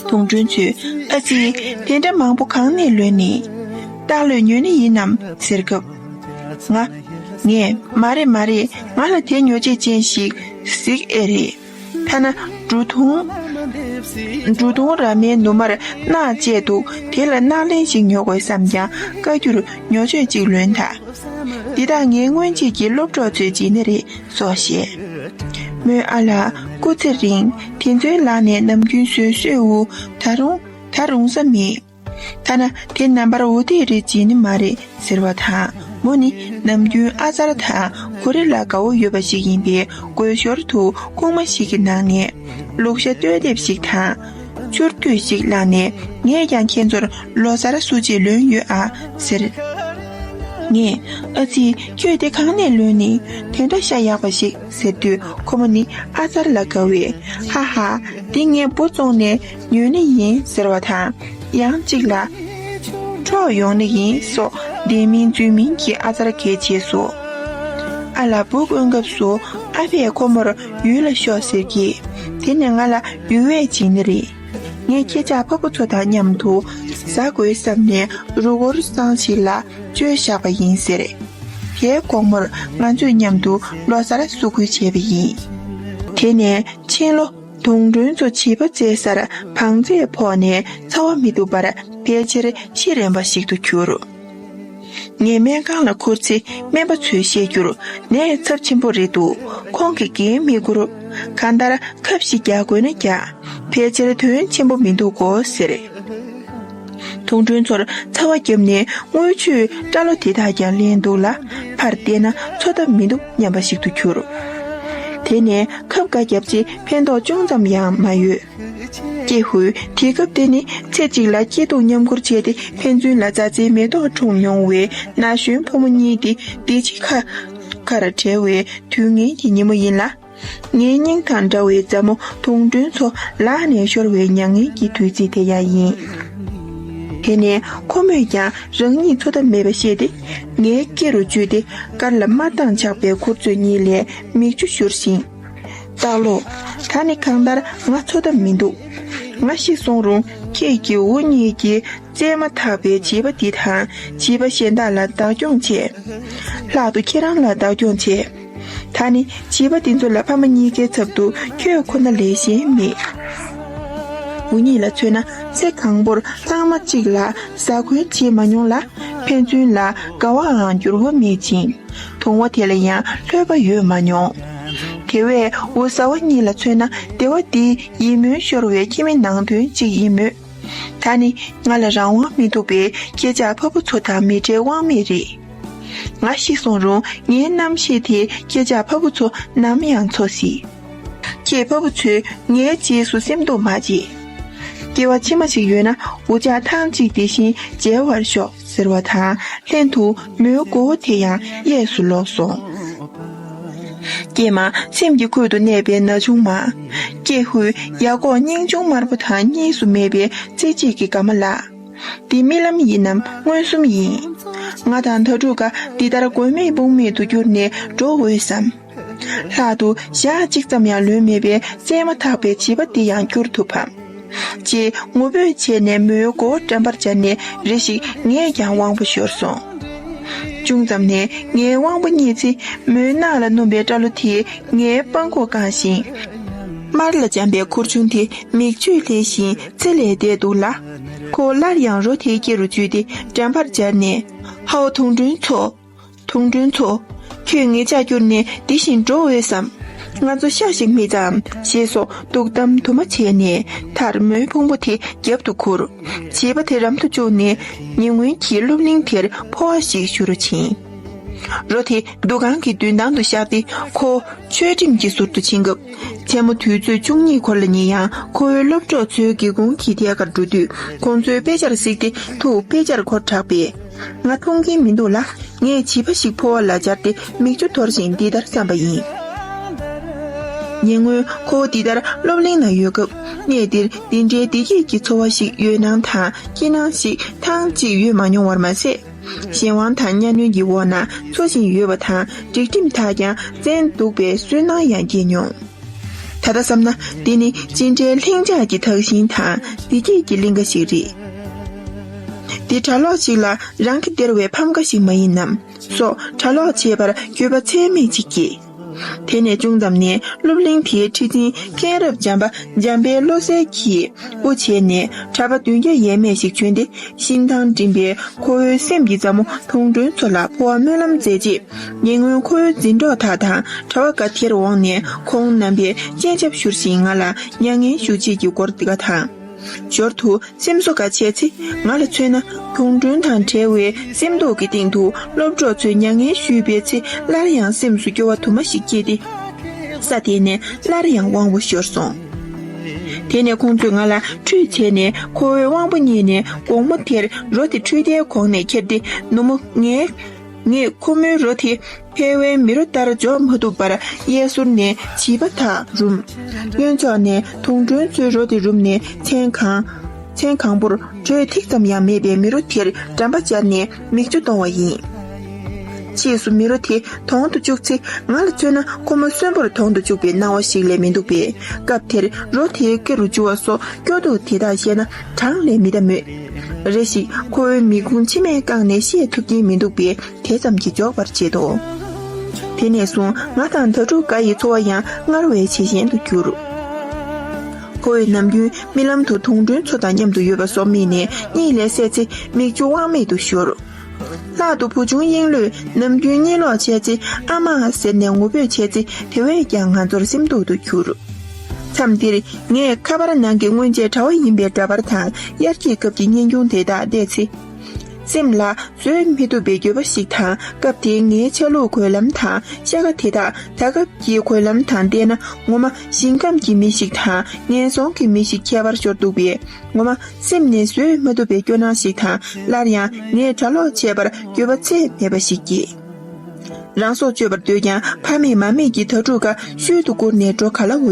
དུང་སྒྲོན་ཚོས་ཨ་ཙི་དེ་འདྲ་མང་པོ་གང་ནས་ལོན་ནི། སྟག་ལོས་ཉོས་ནི་ཡིན་ནམ་ཟེར་སྐབས། ང། ངས་མ་རེད་མ་རེད་ང་ལ་དེ་ཉོ་བྱེད་ཅན་ཞིག་གཟིགས་ཨེ་རེད། ཐ་ན་འབྲུ་དུང། འབྲུ་དུང་ར་མའི་ནུ་མར་རྣག་བཅས་འདུག་དེ་ལ་རྣག་ལེན་ཞིག་ཉོ་དགོས་བསམ་ཀྱང་བཀའ་འགྱུར་ཉོ་ཆོས་གཅིག་ལོན་ད། འདི་དག་ངའི་སྔོན་ཆད་ཀྱི་སློབ་གྲོགས་ཚོའི་རྗེས་ནི་རེད་སོགས་བཤད། མོས་ཨ་ལགས་སྐུ་ཚེ་རིང་དེ་ཚོའི་ལག་ནས་ནམ་རྒྱུན་བཟོས་བཟོས་འུ་ད་རུང་ད་རུང་ས་མེད། ཐ་ན་དེ་རྣམ་པར་འོ་དེ་རེད་ཅེས་ནི་མ་རེད་ཟེར་བ་དང་མོ་ནི་ནམ་རྒྱུན་ཨ་ཙར་དང་གོ་རེ་ལ་དགའ་བོ་ཡོད་པ་ཞིག་ཡིན་པའི་དགོད་ཞོར་དུ་རྐུང་མ་ཞིག་གི་ནང་ནས་ལུག་ཤ་སྟོད་ལྡེབས་ཤིག་དང། ཆུར་ཐུད་ཞིག་བླངས་ནས་ངས་ཀྱང་ཁྱེད་ཚོར་ལོ་སར་བསུ་ཆེད་ལོན་ཡོད་ཨ་ཟེར། ངས་ཨ་ཙི་ཁྱོས་དེ་གང་ནས་ལོན་ནི་དེ་འདྲ་ཤ་ཡག་པ་ཞིག་ཟེར་དུས་ཁོ་མོ་ནི་ཨ་ཙར་ལ་དགའ་བས་ཧ་ཧ་དེ་ངས་འབོ་བཙོང་ནས་ཡོད་ནི་ཡིན་ཟེར་བ་དང། ཡང་གཅིག་ལ། འཕྲོག་ཡོང་ནི་ཡིན་སོགས་བདེན་མིན་རྫུན་མིན་གྱི་ཨ་ཙར་འགེལ་རྗེས་སུ། ཨ་ལ་སྦུག་དབེན་སྐབས་སུ་ཨ་ཕས་ཁོ་མོར་ཡུལ་ལ་ཤོག་ཟེར་གྱིས་དེ་ནི་ང་ལ་ཡུལ་བས་བྱིན་ནི་རེད། ངས་ཁྱེད་ཅག་ཕ་བུ་ཚོ་དང་མཉམ་དུ་བཟའ་དགོས་བསམ་ནས་རུ་སྒོར་བསང་ཞིག་ལ་བཅོལ་བཞག་པ་ཡིན་ཟེར། དེའི་དགོང་མོར་ང་ཚོས་མཉམ་དུ་ལོ་སར་བསུ་བསྐུལ་བྱས་པ་ཡིན། དེ་ནས་ཕྱིན་ལོ། དུང་སྒྲོན་ཚོ་བྱིས་པ་བཙས་སར་བང་རྩལ་ཕོག་ནས་ཚ་བ་མི་འདུག་པར་ཕལ་ཆེར་ཤི་རན་པ་ཞིག་ཏུ་གྱུར། ངས་སྨན་ཁང་ལ་འཁུར་ཚེ་སྨན་པ་ཚོས་བཤད་རྒྱུར་ནད་ཚབས་ཆེན་པོ་རེད་འདུག་ཁོང་གིས་འགན་མི་བསྐུར། གང་ལྟར་ཁབ་བཞི་རྒྱག་དགོས་ན་རྒྱག་ཕལ་ཆེར་དོན་ཆེན་པོ་མི་འདུག་གོ་ཟེར། དུང་སྒྲོན་ཚོར་ཚ་བ་བརྒྱབ་ནས་རྔུལ་ཆུའི་སྐྲ་ལོ་དེ་དག་ཀྱང་བརླན་འདུག་ལ་ཕར་བལྟས་ན་འཚོ་ཐབས་མི་འདུག་སྙམ་པ་ཞིག་ཏུ་གྱུར། དེ་ནས་ཁབ་འགའ་བརྒྱབ་རྗེས་ཕན་ཐོགས་ཅུང་ཙམ་ཡང་མ་ཡོད། ཀྱེ་ཧུད་དེ་སྐབས་དེ་ནི་ཚེ་གཅིག་ལ་སྐྱིད་སྡུག་མཉམ་འཁུར་བྱས་ཏེ་ཕན་ཚུན་ལ་མཛའ་བརྩེའི་མེ་ཏོག་འཁྲུངས་མྱོང་བའི་ན་གཞོན་ཕོ་མོ་གཉིས་དེ་བདེ་སྐྱིད་ཁ་ཁར་བྲལ་བའི་དུས་ངན་གྱི་ཉིན་མོ་ཡིན་ལ། ངའི་སྙིང་དང་འདྲ་བའི་མཛའ་མོ་དུང་སྒྲོན་མཚོ་ལག་ནས་ཤོར་བའི་མྱ་ངན་གྱི་དུས་ཚིགས་དེ་ཡང་ཡིན། དེ་ནས་ཁོ་མོས་ཀྱང་རང་ཉིད་འཚོ་ཐབས་མེད་པ་ཤེས་ཏེ་ངའི་སྐེ་རུ་འཇུས་ཏེ་དཀར་ལ་དམར་མདངས་ཆགས་པའི་མཁུར་ཚོས་གཉིས་ལས་མིག་ཆུ་བཞུར་ཞིང། སྟག་ལོ། ད་ནི་གང་ལྟར་ང་འཚོ་ཐབས་མི་འདུག་ང་ཤི་སོང་རུང་ཁྱེད་ཀྱིས་འུ་གཉིས་ཀྱིས་བཙས་མ་ཐག་པའི་བྱིས་པ་འདི་དང་བྱིས་པ་གཞན་དག་ལ་བདག་སྐྱོང་བྱེད། ལྷག་ཏུ་ཁྱེད་རང་ལ་བདག་སྐྱོང་བྱེད། ད་ནི་བྱིས་པ་འདི་ཚོ་ལ་ཕ་མ་གཉིས་ཀའི་ཚབ་ཏུ་ཁྱོད་ཁོ་ན་ལས་གཞན་མེད། འུ་གཉིས་ལ་མཚོན་ན་ཚེ་གང་པོར་ལྷག་མ་གཅིག་ལ་ཟ་གོན་བྱེད་མ་མྱོང་ལ་ཕན་ཚུན་ལ་དགའ་བའང་འགྱུར་བ་མེད་ཅིང་དུང་བ་དེ་ལ་ཡང་ལྷོད་པ་ཡོད་མ་མྱོང། དེ་བས་འུ་བཟའ་བ་གཉིས་ལ་མཚོན་ན་སྡེ་བ་འདི་ཡིད་སྨོན་ཤོར་བའི་ཁྱིམ་མི་ནང་དོན་གཅིག་ཡིན་མོད། ད་ནི་ང་ལ་རང་དབང་མི་འདུག་པས་ཁྱེད་ཅག་ཕ་བུ་ཚོ་དང་མི་འབྲལ་དབང་མེད་རེད། ང་ཤི་སོང་རུང་ངའི་རྣམ་ཤེས་དེས་ཁྱེད་ཅག་ཕ་བུ་ཚོ་ནམ་ཡང་འཚོ་སྲིད། ཁྱེད་ཕ་བུ་ཚོས་ངའི་རྗེས་སུ་སེམས་གཏོང་མ་བྱེད། སྐྱེ་བ་ཕྱི་མ་ཞིག་ཡོད་ན་འུ་ཅག་ཐང་གཅིག་དེ་བཞིན་མཇལ་བར་ཤོག་ཟེར་བ་དང་ལྷན་དུ་མོའི་མགོ་བོ་དེ་ཡང་གཡས་སུ་ལོག་སོང། ཀྱེ་མ་སེམས་ཀྱི་ཁུད་དུ་གནས་པའི་ན་ཆུང་མ། ཀྱེ་ཧུད་ཡ་ཀོག་སྙིང་ཆུང་དམར་པོ་དང་གཉིས་སུ་མེད་པའི་རྩེ་གཅིག་གི་དགའ་མ་ལགས། འདི་རྨི་ལམ་ཡིན་ནམ་མངོན་སུམ་ཡིན། ང་དང་དྭ་ཕྲུག་འགའ་འདི་ལྟར་དགོས་མེད་དཔུང་མེད་དུ་གྱུར་ནས་འགྲོ་འོས་སམ། ལྷག་ཏུ་ཞག་གཅིག་ཙམ་ཡང་ལོན་མེད་པའི་བཙས་མ་ཐག་པའི་བྱིས་པ་འདི་ཡང་བསྐྱུར་ཐུབ་བམ། ཅེས་ངུ་འབོད་བྱས་ནས་མོའི་མགོ་བོ་འགྲམ་པར་སྦྱར་ནས་རེ་ཞིག་ངས་ཀྱང་དབང་པོ་ཤོར་སོང། ཅུང་ཙམ་ནས་ངའི་དབང་པོ་རྙེད་ཚེ་མོའི་རྣག་ལ་སྣུམ་པའི་སྐྲ་ལོ་དེས་ངའི་པང་ཁོག་བཀང་ཞིང། དམར་ལ་འཇམ་པའི་ཁུར་ཆུང་དེ་མིག་ཆུས་ལྷེས་བཞིན་ཚེ་ལས་འདས་འདུག་ལ། ཁོ་སླར་ཡང་རོ་དེའི་སྐེ་རུ་འཇུས་ཏེ་འགྲན་པར་སྦྱར་ནས། ཧཱུྃ་དུང་སྒྲོན་མཚོ། དུང་སྒྲོན་མཚོ། ཁྱོད་ངེད་ཅག་བསྐྱུར་ནས་འདི་བཞིན་འགྲོ་འོས་སམ། ང་ཚོ་ཤག་ཤིག་མི་བྱའམ་ཞེས་སོགས་སྡུག་གཏམ་དུ་མ་བྱས་ནས་དར་མོའི་ཕུང་པོ་དེ་རྒྱབ་ཏུ་ཁུར། བྱིས་པ་དེ་རམ་དུ་བཅུག་ནས་ཉེ་སྔོན་གྱི་སློབ་གླིང་དེར་འཕོ་བ་ཞིག་ཞུ་རུ་ཕྱིན། རོ་དེ་འདུ་ཁང་གི་མདུན་ཐང་དུ་བཞག་སྟེ་ཁོ་ཆོས་ཁྲིམས་ཀྱི་ཟུར་དུ་ཕྱིན་སྐབས། མཚན་མོ་དུས་ཚོད་བཅུ་གཉིས་འཁོར་ལ་ཉེ་ཡང་ཁོ་བོའི་སློབ་གྲོགས་ཚོའི་སྒེའུ་ཁུང་གི་ཐད་ཀར་འགྲོ་དུས་ཁོང་ཚོའི་དཔེ་ཆར་གཟིགས་ཏེ་ཐུགས་དཔེ་ཆར་འཁོར་དྲགས་པས། ང་མཐོང་གིན་མི་འདུག་ལ་ངས་བྱིས་པ་ཞིག་ཕོ་བ་ལ་སྦྱར་ཏེ་མིག་ཆུ་འཐོར་བཞིན་འདི་ལྟར་བསམ་པ་ཡིན། ཉེ་སྔོན་ཁོ་བོ་འདི་ལྟར་སློབ་གླིང་ན་ཡོད་སྐབས་གནས་འདིར་འདི་འདྲའི་བདེ་སྐྱིད་ཀྱི་འཚོ་བ་ཞིག་ཡོད་སྣང་དང་སྐྱིད་སྣང་ཞིག་ཐང་ཅིག་ཡོད་མ་མྱོང་བར་མ་ཟད། གཞན་དབང་དང་གཉའ་གནོན་གྱི་འོག་ན་འཚོ་བཞིན་ཡོད་པ་དང་སྒྲིག་ཁྲིམས་དག་ཀྱང་བཙན་འདུག་པའི་སུན་སྣང་ཡང་སྐྱེས་མྱོང། ད་ལྟ་བསམ་ན་འདི་ནི་ཅི་འདྲའི་ལྷིང་འཇགས་ཀྱི་དག་ཞིང་དང་བདེ་སྐྱིད་ཀྱི་གླིང་ག་ཞིག་རེད། འདི་གྲྭ་ལོག་ཅིག་ལ་རང་གི་སྟེར་བའི་ཕམ་ཁ་ཞིག་མ་ཡིན་ནམ་སོགས་གྲྭ་ལོག་བྱེད་པར་འགྱོད་པ་ཚད་མེད་ཅིག་སྐྱེས། དེ་ནས་ཅུང་ཙམ་ནས་སློབ་གླིང་དེའི་ཁྲི་འཛིན་མཁན་རབ་འབྱམས་པ་འཇམ་དཔལ་བློ་གསལ་གྱིས་དབུ་བྱས་ནས་གྲྭ་པ་བདུན་བརྒྱ་ཡས་མས་ཤིག་བྱོན་ཏེ་ཤིང་ཐང་འགྲིམས་པས་ཁོ་བོའི་སེམས་ཀྱི་མཛའ་མོ་དུང་སྒྲོན་མཚོ་ལ་འཕོ་བ་སྨོན་ལམ་མཛད་རྗེས་ཉེ་སྔོན་ཁོ་བོའི་འཛིན་གྲོགས་དག་དང་གྲྭ་བ་འགའ་དེར་འོངས་ནས་ཁོང་རྣམ་པས་སྤྱན་ཆབ་བཞུར་ཞིང་ང་ལ་མྱ་ངན་ཞུ་བྱེད་ཀྱི་སྐོར་འདི་ག་དང། ཞོར་དུ་སེམས་གསོ་འགའ་བྱས་ཚེ་ང་ལ་མཚོན་ན་གུང་ཁྲོན་དང་བྲལ་བའི་སེམས་རྟོག་གི་སྟེང་དུ་སློབ་གྲོགས་ཚོས་མྱ་ངན་ཞུས་པའི་ཚེ་སླར་ཡང་སེམས་སུ་སྐྱོ་བ་དུ་མ་ཞིག་སྐྱེས་ཏེ། ས་དེ་ནས་སླར་ཡང་དབང་བོ་ཤོར་སོང། དེ་ནས་ཁོང་ཚོས་ང་ལ་ཁྲུས་བྱས་ནས་ཁོ་བོའི་དབང་བོ་རྙེད་ནས་དགོང་མོ་དེར་རོ་དེ་ཁྲུས་དེའི་གོང་ནས་ཁྱེར་ཏེ་ནུ་མོ་ངའི་ངས་ཁོ་མོའི་རོ་དེ་ཐའེ་ཝན་མི་རོ་ལྟར་འཇོག་མ་ཐུབ་པར་གཡས་ཟུར་ནས་བྱིས་པ་དག་རུམ། གཡོན་ཕྱོགས་ནས་དུང་སྒྲོན་གཙོས་རོ་དེ་རུམ་ནས་མཚན་གང། མཚན་གང་པོར་དྲོད་ཐིག་ཙམ་ཡང་མེད་པའི་མི་རོ་དེར་འགྲམ་པ་སྦྱར་ནས་མིག་ཆུ་གཏོང་བ་ཡིན། ཕྱིས་སུ་མི་རོ་དེ་དོང་དུ་བཅུག་ཚེ་ང་ལ་མཚོན་ན་ཁོ་མོ་གསོན་པོར་དོང་དུ་བཅུག་པའི་སྣང་བ་ཞིག་ལས་མི་འདུག་པས་སྐབས་དེར་རོ་དེའི་སྐེ་རུ་འཇུ་བ་སོགས་སྐྱོ་སྡུག་དེ་དག་བཤད་ན་གྲངས་ལས་མི་འདའ་མོད། རེ་ཞིག་ཁོ་བོའི་མིག་ཀུན་མཆི་མས་བཀང་ནས་ཤེས་ཐུབ་ཀྱིན་མི་འདུག་པས་དེ་ཙམ་གྱིས་འཇོག་པར་བྱེད་དོ། དེ་ནས་བཟུང་ང་དང་ད་ཕྲུག་འགའ་ཡི་འཚོ་བ་ཡང་སྔར་བས་ཇེ་ཞན་དུ་གྱུར། ཁོ་བོས་ནམ་རྒྱུན་རྨི་ལམ་དུ་དུང་སྒྲོན་མཚོ་དང་མཉམ་དུ་ཡོད་པ་སོགས་རྨིས་ནས་གཉིད་ལས་སད་ཚེ་མིག་ཆུ་དབང་མེད་དུ་བཞུར། ལྷག་ཏུ་བུ་ཆུང་དབྱིངས་གླུས་ནམ་རྒྱུན་གཉིད་ལོག་བྱས་ཚེ་ཨ་མ་ཟེར་ནས་ངུ་འབོད་བྱས་ཚེ་དེ་བས་ཀྱང་ང་ཚོར་སེམས་སྡུག་ཏུ་གྱུར། མཚམས་འདིར་ངས་ཁ་པར་ནང་གི་སྔོན་ཆད་གྲྭ་བ་ཡིན་པའི་འདྲ་པར་དང་དབྱར་སྐྱིད་སྐབས་ཀྱི་སྙན་རྒྱུང་དེ་དག་བལྟས་ཚེ། སེམས་ལ་བཟོད་མི་ཐུབ་པའི་འགྱོད་པ་ཞིག་དང་སྐབས་དེའི་ངའི་ཆ་ལུགས་གོས་ལམ་དང་ཤ་ཁ་དེ་དག་ད་སྐབས་ཀྱི་གོས་ལམ་དང་བལྟས་ན་ངོ་མ་ཞིང་ཁམས་ཀྱི་མི་ཞིག་དང་ངན་སོང་གི་མི་ཞིག་ཁྱད་པར་ཤོར་འདུག་པས། ངོ་མ་སེམས་ནས་བཟོད་མ་ཐུབ་པའི་སྐྱོ་སྣང་ཞིག་དང་སླར་ཡང་ངས་གྲྭ་ལོག་བྱས་པར་འགྱོད་པ་ཚད་མེད་པ་ཞིག་སྐྱེས། རང་སྲོག་གཅོད་པར་འདོད་ཀྱང་ཕ་མེད་མ་མེད་ཀྱི་དྭ་ཕྲུག་ག་ཤོད་དུ་བསྐུར་ནས་འགྲོ་ག་ལ་འོས།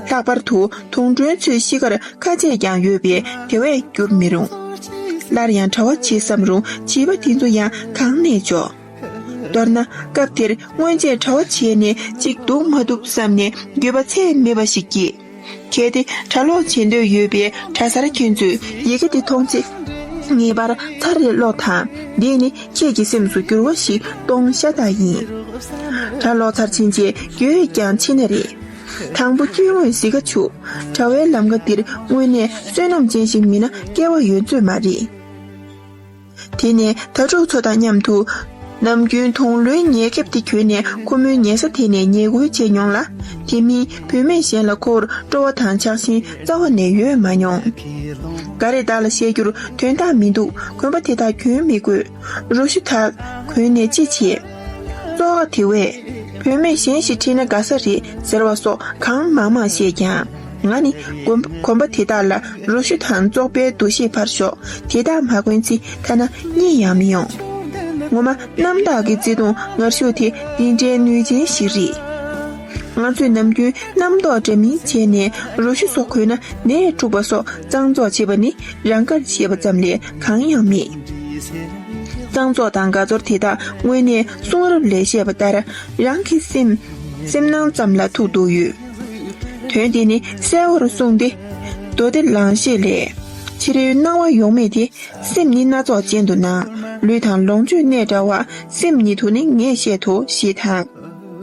ལྷག་པར་དུ་དུང་སྒྲོན་ཚོའི་གཤིས་ཀར་ཁ་ཆད་ཀྱང་ཡོད་པས་དེ་བས་བསྐྱུར་མི་རུང། སླར་ཡང་གྲྭ་བ་བྱེད་བསམ་རུང་བྱིས་པ་དེ་ཚོ་ཡང་གང་ནས་འཇོག། མདོར་ན་སྐབས་དེར་སྔོན་ཆད་གྲྭ་བ་བྱས་ནས་ཅིག་འདུག་མ་ཐུབ་བསམ་ནས་འགྱོད་པ་ཚད་མེད་པ་ཞིག་སྐྱེས། གལ་ཏེ་གྲྭ་ཀློག་བྱེད་འདོད་ཡོད་པའི་གྲྭ་སར་ཁྱོད་ཚོས་ཡི་གེ་འདི་མཐོང་ཚེ། ངེས་པར་ཚར་རེ་ཀློག་དང་འདིས་ནི་ཁྱེད་ཀྱི་སེམས་སུ་འགྱུར་བ་ཞིག་གཏོང་ཤ་སྟག་ཡིན། གྲྭ་ཀློག་ཚར་ཕྱིན་རྗེས་ཡོད་ཡོད་ཀྱང་ཕྱི་ན་རེ། དང་པོ་དཀྱུས་དངོས་བཟི་ཁ་བྱུག། གྲྭ་བའི་ལམ་ཀ་འདིར་དངོས་གནས་བསོད་ནམས་ཅན་ཞིག་མིན་ན་སྐལ་བ་ཡོད་ཚོད་མ་རེད། དེ་ནས་དྭ་ཕྲུག་ཚོ་དང་མཉམ་དུ། ནམ་རྒྱུན་དུང་ལོའི་ཉལ་ཁེབས་དེ་གྱོན་ནས་ཁོ་མོའི་ཉལ་ས་དེ་ནས་ཉལ་དགོལ་བྱས་མྱོང་ལ། དེ་མིན་བུད་མེད་གཞན་ལ་ཁོ་བོར་སྤྲོ་བ་དང་ཆགས་ཞེན་རྩ་བ་ནས་ཡོད་མ་མྱོང། འགའ་རེས་བདག་ལ་བཤད་རྒྱུར་དོན་དག་མི་འདུག་གོན་པ་དེ་དག་གྱོན་མི་དགོས། རོ་ཞུ་དག་གོན་ནས་ཅི་བྱེད། བཙོག་ཨ་དེ་བས། བུད་མེད་གཞན་ཞིག་ཁྲིད་ན་དགའ་ས་རེད་ཟེར་བ་སོགས་གང་མང་མང་བཤད་ཀྱང། ང་ནི་གོམ་པ་དེ་དག་ལ་རོ་བཞི་དང་བཙོག་པའི་འདུ་ཤེས་ཕར་ཞོག་དེ་དག་མ་གོན་ཚེ་ཐ་ན་གཉིད་ཡང་མི་ཡོང། ངོ་མ་གནམ་བདག་གི་བརྩེ་དུང་ངར་ཤུགས་དེ་འདི་འདྲའི་ནུས་ཅན་ཞིག་རེད། ང་ཚོས་ནམ་རྒྱུན་རྣམ་རྟོག་འདྲ་མིན་བྱས་ནས་རོ་བཞི་སོགས་གོན་ན་ནད་འཁྲུག་པ་སོགས་གཙང་བཙོག་བྱེད་པ་ནི་རང་དགར་བྱེད་པ་ཙམ་ལས་གང་ཡང་མེད། གཙང་བཙོག་དང་དགའ་ཚོར་དེ་དག་དངོས་གནས་གསུང་རབ་ལས་བཤད་པ་ལྟར་རང་གི་སེམས་ནང་ཙམ་ལ་ཐུག་འདུག་ཡོད། དོན་དེ་ནི་གསལ་བོར་གསུངས་ཏེ། མདོ་སྡེ་ལང་གཤེགས་ལས། ཕྱི་རོལ་སྣང་བ་ཡོངས་མེད་དེ། སེམས་ནི་སྣ་ཚོགས་ཅན་དུ་སྣང། ལུས་དང་ལོངས་སྤྱོད་གནས་འདྲ་བ། སེམས་ཉིད་དུ་ནི་ངས་བཤད་དོ་ཞེས་དང།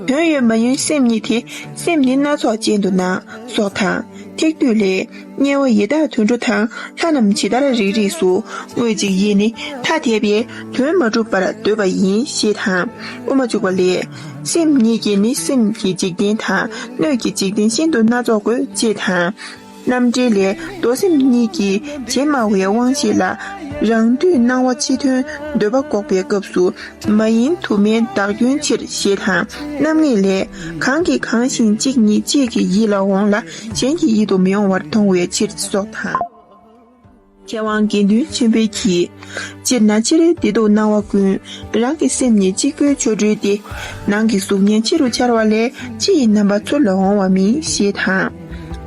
དོན་ཡོད་མ་ཡིན་སེམས་ཉིད་དེ། སེམས་ནི་སྣ་ཚོགས་ཅན་དུ་སྣང། སོགས་དང། ཐེག་བསྡུས་ལས། དམྱལ་བ་ཡི་དྭགས་དུད་འགྲོ་དང་ལྷ་རྣམས་ཇི་ལྟར་རིགས་རིགས་སུ་བསྔོས་ཅིག་ཡིད་ནི་ཐ་དད་པས་དོན་མ་གྲུབ་པར་འདོད་པ་ཡིན་ཞེས་དང་དབུ་མ་བཅུག་པ་ལས། སེམས་ཉིད་ཀྱིས་ནི་སེམས་ཀྱི་འཇིག་རྟེན་དང་སྣོད་ཀྱི་འཇིག་རྟེན་ཤིན་ཏུ་སྣ་ཚོགས་དགོད་ཅེས་དང། རྣམ་འགྲེལ་ལས་རྡོ་སེམས་གཉིས་ཀྱི་རྗེས་སྨྲ་བའི་དབང་ཤེས་ལ། རང་འདུས་སྣང་བ་ཕྱི་དོན་འདོད་པ་འགོག་པའི་སྐབས་སུ་མ་ཡིན་དུ་མའི་བདག་སྐྱོན་ཕྱིར་ཞེས་དང་རྣམ་ངེས་ལས། གང་གིས་གང་ཞིང་གཅིག་ཉིད་གཅིག་གི་ཡིད་ལ་འོང་ལ་གཞན་གྱི་ཡིད་དུ་མི་འོང་བར་མཐོང་བའི་ཕྱིར་སོགས་དང། མཁས་དབང་དགེ་འདུན་ཆེན་པོས་གྱིས། སྤྱིར་ན་ཕྱི་རོལ་བདེ་སྡུག་སྣང་བ་ཀུན། རང་གི་སེམས་ཉིད་གཅིག་པུའི་ཆོ་འཕྲུལ་ཏེ། ནང་གི་གཟུགས་བརྙན་ཕྱི་རུ་འཆར་བ་ལས་ཕྱི་ཡི་རྣམ་པ་ཚུར་ལ་འོང་བ་མིན་ཞེས་དང།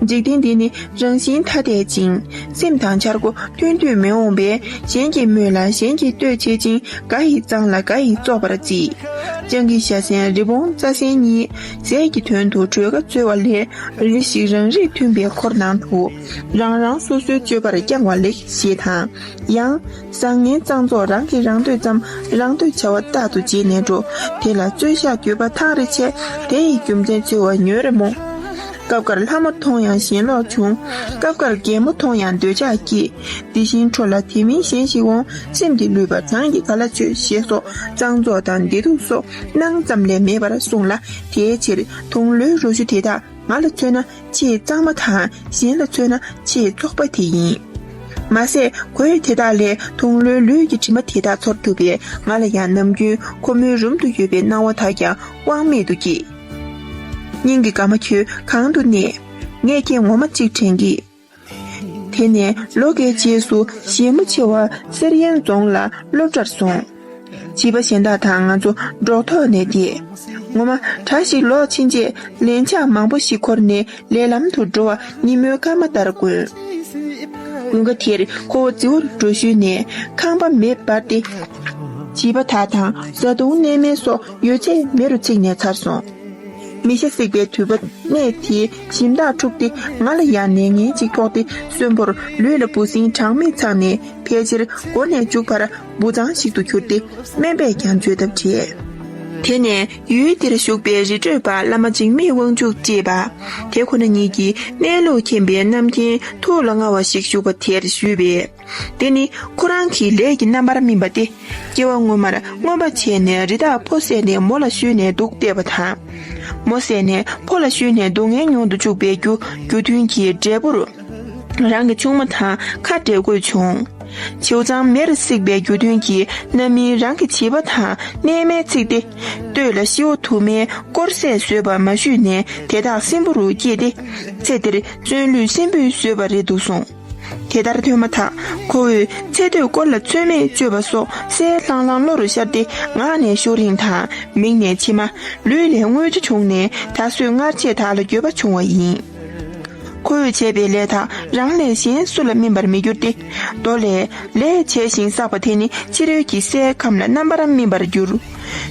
འཇིག་རྟེན་འདི་ནི་རང་བཞིན་ཐ་དད་ཅིང་སེམས་དང་འཆར་སྒོ་མཐུན་དུས་མི་འོང་པས་གཞན་གྱིས་སྨོས་ལ་གཞན་གྱིས་བསྟོད་བྱེད་ཅིང་འགའ་ཡིས་གཙང་ལ་འགའ་ཡིས་བཙོག་པར་བགྱིད། སྤྱང་ཀི་ཤ་གསེང་རི་བོང་རྩ་གསེང་གཉིས། རྫས་ཀྱི་དོན་དུ་གྲོས་ཁ་རྩོད་བ་ལས་རེ་ཞིག་རང་རིགས་མཐུན་པའི་འཁོར་ནང་དུ་རང་རང་སོ་སོའི་སྤྱོད་པར་བསྐྱང་བ་ལེགས་ཞེས་དང། ཡང། བཟང་ངན་གཙང་བཙོག་རང་གིས་རང་འདོད་ཙམ་རང་འདོད་བྱ་བ་རྟག་ཏུ་བརྗེད་ནས་འགྲོ་དེ་ལ་རྩོད་བཞག་གྱོད་པ་ཐག་རེ་ཆད་དེ་ཡི་རྒྱུ་མཚན་འཚོལ་བ་ཉོན་རེ་རྨོངས། སྐབས་འགར་ལྷ་མོ་མཐོང་ཡང་ཞེན་ལོག་འབྱུང། སྐབས་འགར་རྒན་མོ་མཐོང་ཡང་འདོད་ཆགས་སྐྱེས། དེ་བཞིན་འཕྲོ་ལ་དེ་མིན་གཞན་ཞིག་འོང་སེམས་ཀྱིས་བསླུས་པ་གྲངས་ཀྱི་ག་ལ་ཆོད་ཞེས་སོགས་གཙང་བཙོག་དང་བདེ་སྡུག་སོགས་སྣང་ཙམ་ལས་མེད་པར་གསུངས་ལ་དེའི་ཕྱིར་དུང་ལོའི་རོ་བཅུ་དེ་དག་ང་ལ་མཚོན་ན་ཆེས་གཙང་མ་དང་གཞན་ལ་མཚོན་ན་ཆེས་བཙོག་པ་དེ་ཡིན། མ་ཟད་གོས་དེ་དག་ལས་དུང་ལོའི་ལུས་ཀྱི་དྲི་མ་དེ་དག་ཚོར་ཐུབ་པས་ང་ལ་ཡང་ནམ་རྒྱུན་ཁོ་མོའི་རུམ་དུ་ཡོད་པའི་སྣང་བ་དག་ཀྱང་དབང་མེད་དུ་སྐྱེས། སྙིང་གི་དགའ་མ་ཁྱོད་གང་དུ་གནས། ངས་ཁྱེད་ངོ་མ་གཅིག་དྲན་གི། དེ་ནས་ལོ་འགའི་རྗེས་སུ་གཞས་མོ་ཆེ་བ་གསེར་ཡན་རྫོང་ལ་སློབ་གྲྭར་སོང། བྱིས་པ་གཞན་དག་དང་ང་ཚོ་འགྲོགས་ཐོག་ནས་བསྡད། ངོ་མ་གྲྭ་ཞིག་ལོག་ཕྱིན་རྗེས་ལན་ཆགས་མང་པོ་ཞིག་འཁོར་ནས་ལས་ལམ་དུ་འགྲོ་བ་ཉིན་མོའི་སྐར་མ་ལྟར་དཀོན། དགུན་ཁ་དེར་ཁོ་བོ་རྫི་བོར་འགྲོ་ཞུས་ནས་ཁང་པ་མེ་སྦར་ཏེ། བྱིས་པ་དག་དང་བཟའ་བཏུང་གནས་མལ་སོགས་ཡོད་ཚད་མེ་རུ་ཚིག་ནས་ཚར་སོང། མི་ཤ་བསྲེགས་པའི་དུད་པ་གནས་དེའི་སྦྱིན་བདག་འཁྲུགས་ཏེ་ང་ལ་ཡང་ནད་ངན་ཅིག་ཕོག་སྟེ་གསོན་པོར་ལུས་ལ་འབུ་སྲིན་གྲངས་མེད་འཚང་ནས་ཕལ་ཆེར་མགོ་ནས་མཇུག་བར་འབུ་ཚང་ཞིག་ཏུ་གྱུར་ཏེ་སྨན་པས་ཀྱང་བཅོས་ཐབས་བྲལ། དེ་ནས་ཡུལ་འདིར་བཞུགས་པའི་རི་ཁྲོད་པ་བླ་མ་འཇིགས་མེད་དབང་ཕྱུག་ཅེས་པ་དེ་ཁོ་ན་ཉིད་ཀྱིས་གནས་ལུགས་མཁྱེན་པའི་རྣམ་མཁྱེན་ཐུགས་ལ་མངའ་བ་ཞིག་བཞུགས་པ་དེར་བཞུད་པས། དེ་ནི་ཁོ་རང་གི་ལས་ཀྱི་རྣམ་པར་སྨིན་པ་སྟེ། སྐྱེ་བ་སྔོན་མར་རྔོན་པ་བྱས་ནས་རི་དྭགས་ཕོ་བསད་ནས་མོ་ལ་ཤོད་ནས་འདུག་བལྟས་པ་དང། མོ་བསད་ནས་ཕོ་ལ་ཤོད་ནས་སྡུག་བསྔལ་མྱོང་དུ་བཅུག་པའི་རྒྱུ་རྒྱུ་མཐུན་གྱི་འབྲས་བུར། རང་གི་ཆུང་མ་དང་ཁ་འབྲལ་དགོས་བྱུང། བྱེའུ་ཚང་མེར་བསྲེགས་པའི་རྒྱུ་མཐུན་གྱིས་རྣམ་སྨིན་རང་གི་བྱིས་པ་དང་གནས་མལ་བརྩིགས་ཏེ། སྟོད་ལ་ཤི་བོ་དུ་མའི་དཀོར་ཟས་ཟོས་པ་མ་ཞུས་ནས་དེ་དག་སྲིན་པོ་རུ་སྐྱེས་ཏེ། ཚེ་འདིར་བརྩོན་ལུས་སྲིན་པོས་ཟོས་པ་རེད་འདུག་གསུངས། དེ་ལྟར་ཐོས་མ་ཐག་ཁོ་བོས་ཚེ་སྟོད་སྐོར་ལ་རྩོད་མེད་སྤྱོད་པ་སོགས་གསལ་ལྷང་ལྷང་བློ་རུ་ཤར་ཏེ་ངག་ནས་ཤོག་རིང་དང་མིག་ནས་མཆི་མ་ལུས་ལས་རྔུལ་ཆུ་བྱུང་ནས་ད་གཟོད་སྔར་བྱས་དག་ལ་འགྱོད་པ་བྱུང་བ་ཡིན། ཁོ་བོས་བྱས་པའི་ལས་དག་རང་ལས་གཞན་སུ་ལ་སྨིན་པར་མི་འགྱུར་ཏེ། མདོ་ལས། ལས་བྱས་ཤིང་བསགས་པ་དེ་ནི་ཕྱི་རོལ་གྱི་སའི་ཁམས་ལ་རྣམ་པར་སྨིན་པར་འགྱུར།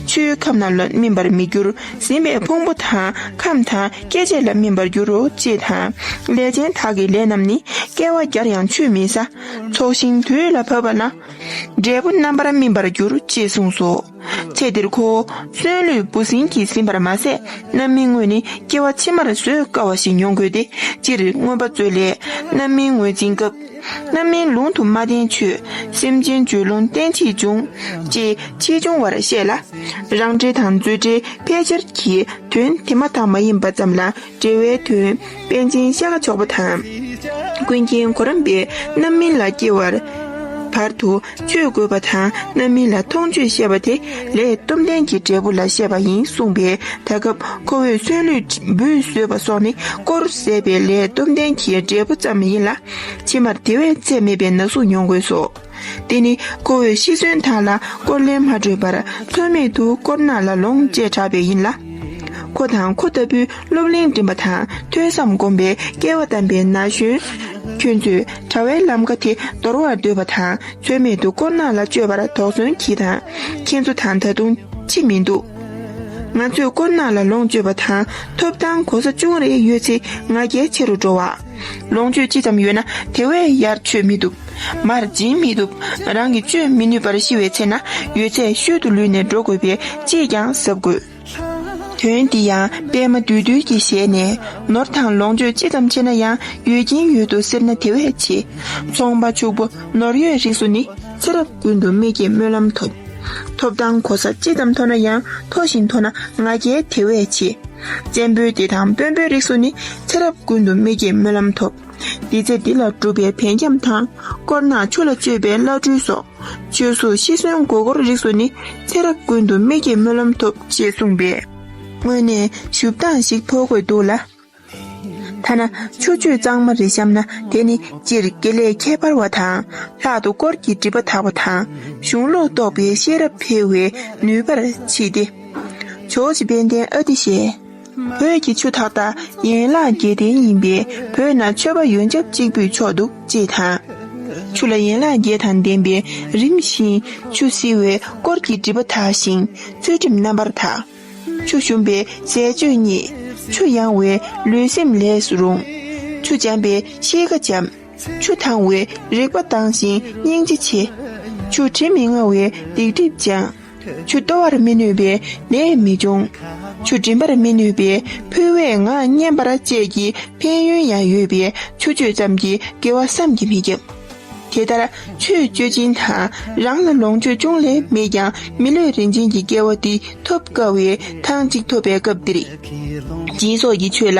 ཆུའི་ཁམས་རྣམས་ལ་སྨིན་པར་མི་འགྱུར་ཟིན་པས་ཕུང་པོ་དང་ཁམས་དང། སྐད་ཅིག་ལ་སྨིན་པར་འགྱུར་རོ་ཅེས་དང། ལས་ཅན་དག་གི་ལས་རྣམས་ནི་བསྐལ་བ་བརྒྱར་ཡང་ཆུད་མི་ཟ། ཚོགས་ཤིང་དུས་ལ་བབ་པ་ན། འབྲས་བུ་རྣམ་པར་སྨིན་པར་འགྱུར་ཅེས་གསུངས་སོ། ཚེ་འདིར་ཁོ་བོ་གསོན་ལུས་སྤུ་ཟིང་གིས་ཟིན་པར་མ་ཟད་རྣམ་སྨིན་དངོས་ནི་སྐྱེ་བ་ཕྱི་མར་བཟོད་དཀའ་བ་ཞིག་མྱོང་དགོས་ཏེ་སྤྱིར་མངོན་པ་མཛོད་ལས་རྣམ་སྨིན་ངོས་འཛིན་སྐབས། རྣམ་སྨིན་ལུང་དུ་མ་བསྟན་ཆོས། སེམས་ཅན་བཅོས་ལུང་བསྟན་ཕྱིས་འབྱུང། ཅེས་ཕྱིས་འབྱུང་བར་བཤད་ལ། རང་འགྲེལ་དང་མཛོད་འགྲེལ་ཕལ་ཆེར་གྱིས་དོན་དེ་མ་དག་མ་ཡིན་པ་ཙམ་ལ་འགྲེལ་བའི་དོན་དཔལ་ཆེན་ཤ་ཁ་མཆོག་པ་དང། ཀུན་མཁྱེན་གོ་རམས་པའི་རྣམ་སྨིན་ལ་སྐྱེ་བར་བར་དུ། ཆོས་དགོས་པ་དང་རྣམ་སྨིན་ལ་མཐོང་ཆོས་བཤད་པ་དེ་ལས་སྟོབས་ལྡན་གྱི་འབྲས་བུ་ལ་བཤད་པ་ཡིན་གསུངས་པས་ད་སྐབས་ཁོ་བོས་གསོན་ལུས་འབུལ་བཟོད་པ་སོགས་ནི་དཀོར་ཟད་པའི་ལས་སྟོབས་ལྡན་གྱི་འབྲས་བུ་ཙམ་ཡིན་ལ། ཕྱི་མར་དེ་བས་ཚད་མེད་པའི་ན་ཟུག་མྱོང་དགོས་སོ། འདི་ནི་ཁོ་བོས་ཤི་གསོན་དག་ལ་དཀོར་ལེན་མ་སྤྲོད་པར་མཚོན་མེད་དུ་དཀོར་ནག་ལ་ལོངས་སྤྱད་དྲགས་པས་ཡིན་ལ། ཁོ་དང་ཁོ་ལྟ་བུའི་སློབ་གླིང་འགྲིམ་པ་དང་ཐོས་བསམ་སྒོམ་པའི་སྐལ་བ་བལྟམས་པའི་ན་གཞོན་ཁྱོད་ཚོས་དྲ་བའི་ལམ་ཀ་དེ་འདོར་བར་འདོད་པ་དང་ཚོད་མེད་དུ་དཀོར་ནག་ལ་སྤྱོད་པར་དོགས་ཟོན་གྱིས་དང་ཁྱེད་ཚོ་དང་ད་དུང་ཅི་མི་འདུག། ང་ཚོས་དཀོར་ནག་ལ་ལོངས་སྤྱོད་པ་དང་ཐོབ་ཐང་གོ་ས་ཅུང་རེ་ཡོད་ཚེ་ང་རྒྱལ་ཆེ་རུ་འགྲོ་བ། ལོངས་སྤྱོད་ཅི་ཙམ་ཡོད་ན་དེ་བས་ཡར་ཆོད་མི་ཐུབ། མར་འབྱིན་མི་ཐུབ། རང་གིས་སྤྱོད་མི་ནུས་པར་ཤི་བའི་ཚེ་ན་ཡོད་ཚད་ཤོད་དུ་ལུས་ནས་འགྲོ་དགོས་པས་ཅིས་ཀྱང་གཟབ་དགོས། དོན་འདི་ཡང་པད་མ་བདུད་འདུལ་གྱི་ཞལ་ནས། ནོར་དང་ལོངས་སྤྱོད་ཅི་ཙམ་ཆེ་ན་ཡང་ཡོད་ཀྱིན་ཡོད་དོ་ཟེར་ན་དེ་བས་ཆེ། ཚོང་པ་ཕྱུག་པོ་ནོར་ཡོད་རིགས་སུ་ནི་ཚེ་རབས་ཀུན་ཏུ་མིག་གིས་སྨོན་ལམ་ཐོབ། ཐོབ་དང་གོ་ས་ཅི་ཙམ་མཐོ་ན་ཡང་མཐོ་བཞིན་མཐོ་ན་ང་རྒྱལ་དེ་བས་ཆེ། བཙན་པོའི་སྡེ་དང་དཔོན་པོའི་རིགས་སུ་ནི་ཚེ་རབས་ཀུན་ཏུ་མིག་གིས་སྨོན་ལམ་ཐོབ། འདི་རྫས་འདི་ལ་སྒྲུབ་པའི་བལ་འཁྱམས་དང། དཀོར་ནག་ཆུ་ལ་སྤྱོད་པའི་བླ་སྤྲུལ་སོགས། བཅོས་གཟུགས་ཤི་གསོན་མགོ་སྐོར་རིགས་སུ་ནི། ཚེ་རབས་ཀུན་ཏུ་མིག་གིས་སྨོན་ལམ་ཐོབ། ཅེས་གསུངས་པས། དངོས་ནས་ཞུ་སྟངས་ཤིག་ཕོག་དགོས་འདུག་ལ། ཐ་ན་ཆུ་བཅོས་གཙང་མ་རེ་བཤམས་ན་དེ་ནི་སྤྱིར་དགེ་ལས་ཁྱད་པར་བ་དང། ལྷག་ཏུ་དཀོར་གྱི་སྒྲིབ་པ་དག་པ་དང། གཞུང་ལུགས་རྟོགས་པའི་ཤེས་རབ་འཕེལ་བའི་ནུས་པར་མཆིས་ཏེ། ཇོ་བྱེད་དཔལ་ལྡན་ཨ་ཏི་ཤས། བོད་ཀྱི་ཆུ་འཐག་དང་ཡན་ལག་བརྒྱད་ལྡན་ཡིན་པས་བོད་ན་ཆོས་པ་ཡོན་ཆབ་གཅིག་པུས་ཆོག་འདུག་ཅེས་དང། ཆུ་ལ་ཡན་ལག་བརྒྱད་དང་ལྡན་པས་རིམ་བཞིན་ཆུ་བསིལ་བས་དཀོར་གྱི་སྒྲིབ་པ་དག་ཞིང་ཚུལ་ཁྲིམས་རྣམ་པར་དག། ཆུ་ཞུམ་པས་ཟས་སྤྱོད་རྙེད། ཆུ་ཡང་བས་ལུས་སེམས་ལས་སུ་རུང། ཆུ་འཇམ་པས་གཤིས་ཀ་འཇམ། ཆུ་དྭངས་བས་རེག་པ་དྭངས་ཤིང་སྙིང་རྗེ་ཆེ། ཆུ་དྲི་མི་མངའ་བས་སྡིག་སྒྲིབ་སྦྱངས། ཆུ་གཏོར་བར་མི་ནུས་པའི་ནད་མི་འབྱུང། ཆུ་འབྲིམ་པར་མི་ནུས་པའི་ཕུལ་བས་ངག་སྙན་པར་བཅས་ཀྱི་ཕན་ཡོན་ཡང་ཡོད་པས་ཆུ་སྤྱོད་ཙམ་གྱིས་དགེ་བ་བསམ་གྱིས་མི་ཁྱབ། དེ་ལྟར་ཆུ་སྤྱོད་སྦྱིན་དང་རང་ལ་ལོངས་སྤྱོད་ཅུང་ལས་མེད་ཀྱང་མི་ལུས་རིན་ཆེན་གྱི་སྐལ་བ་འདི་ཐོབ་དཀའ་བས་ཐང་ཅིག་ཐོབ་པའི་སྐབས་འདིར། སྦྱིན་སོགས་ཀྱི་ཆོས་ལ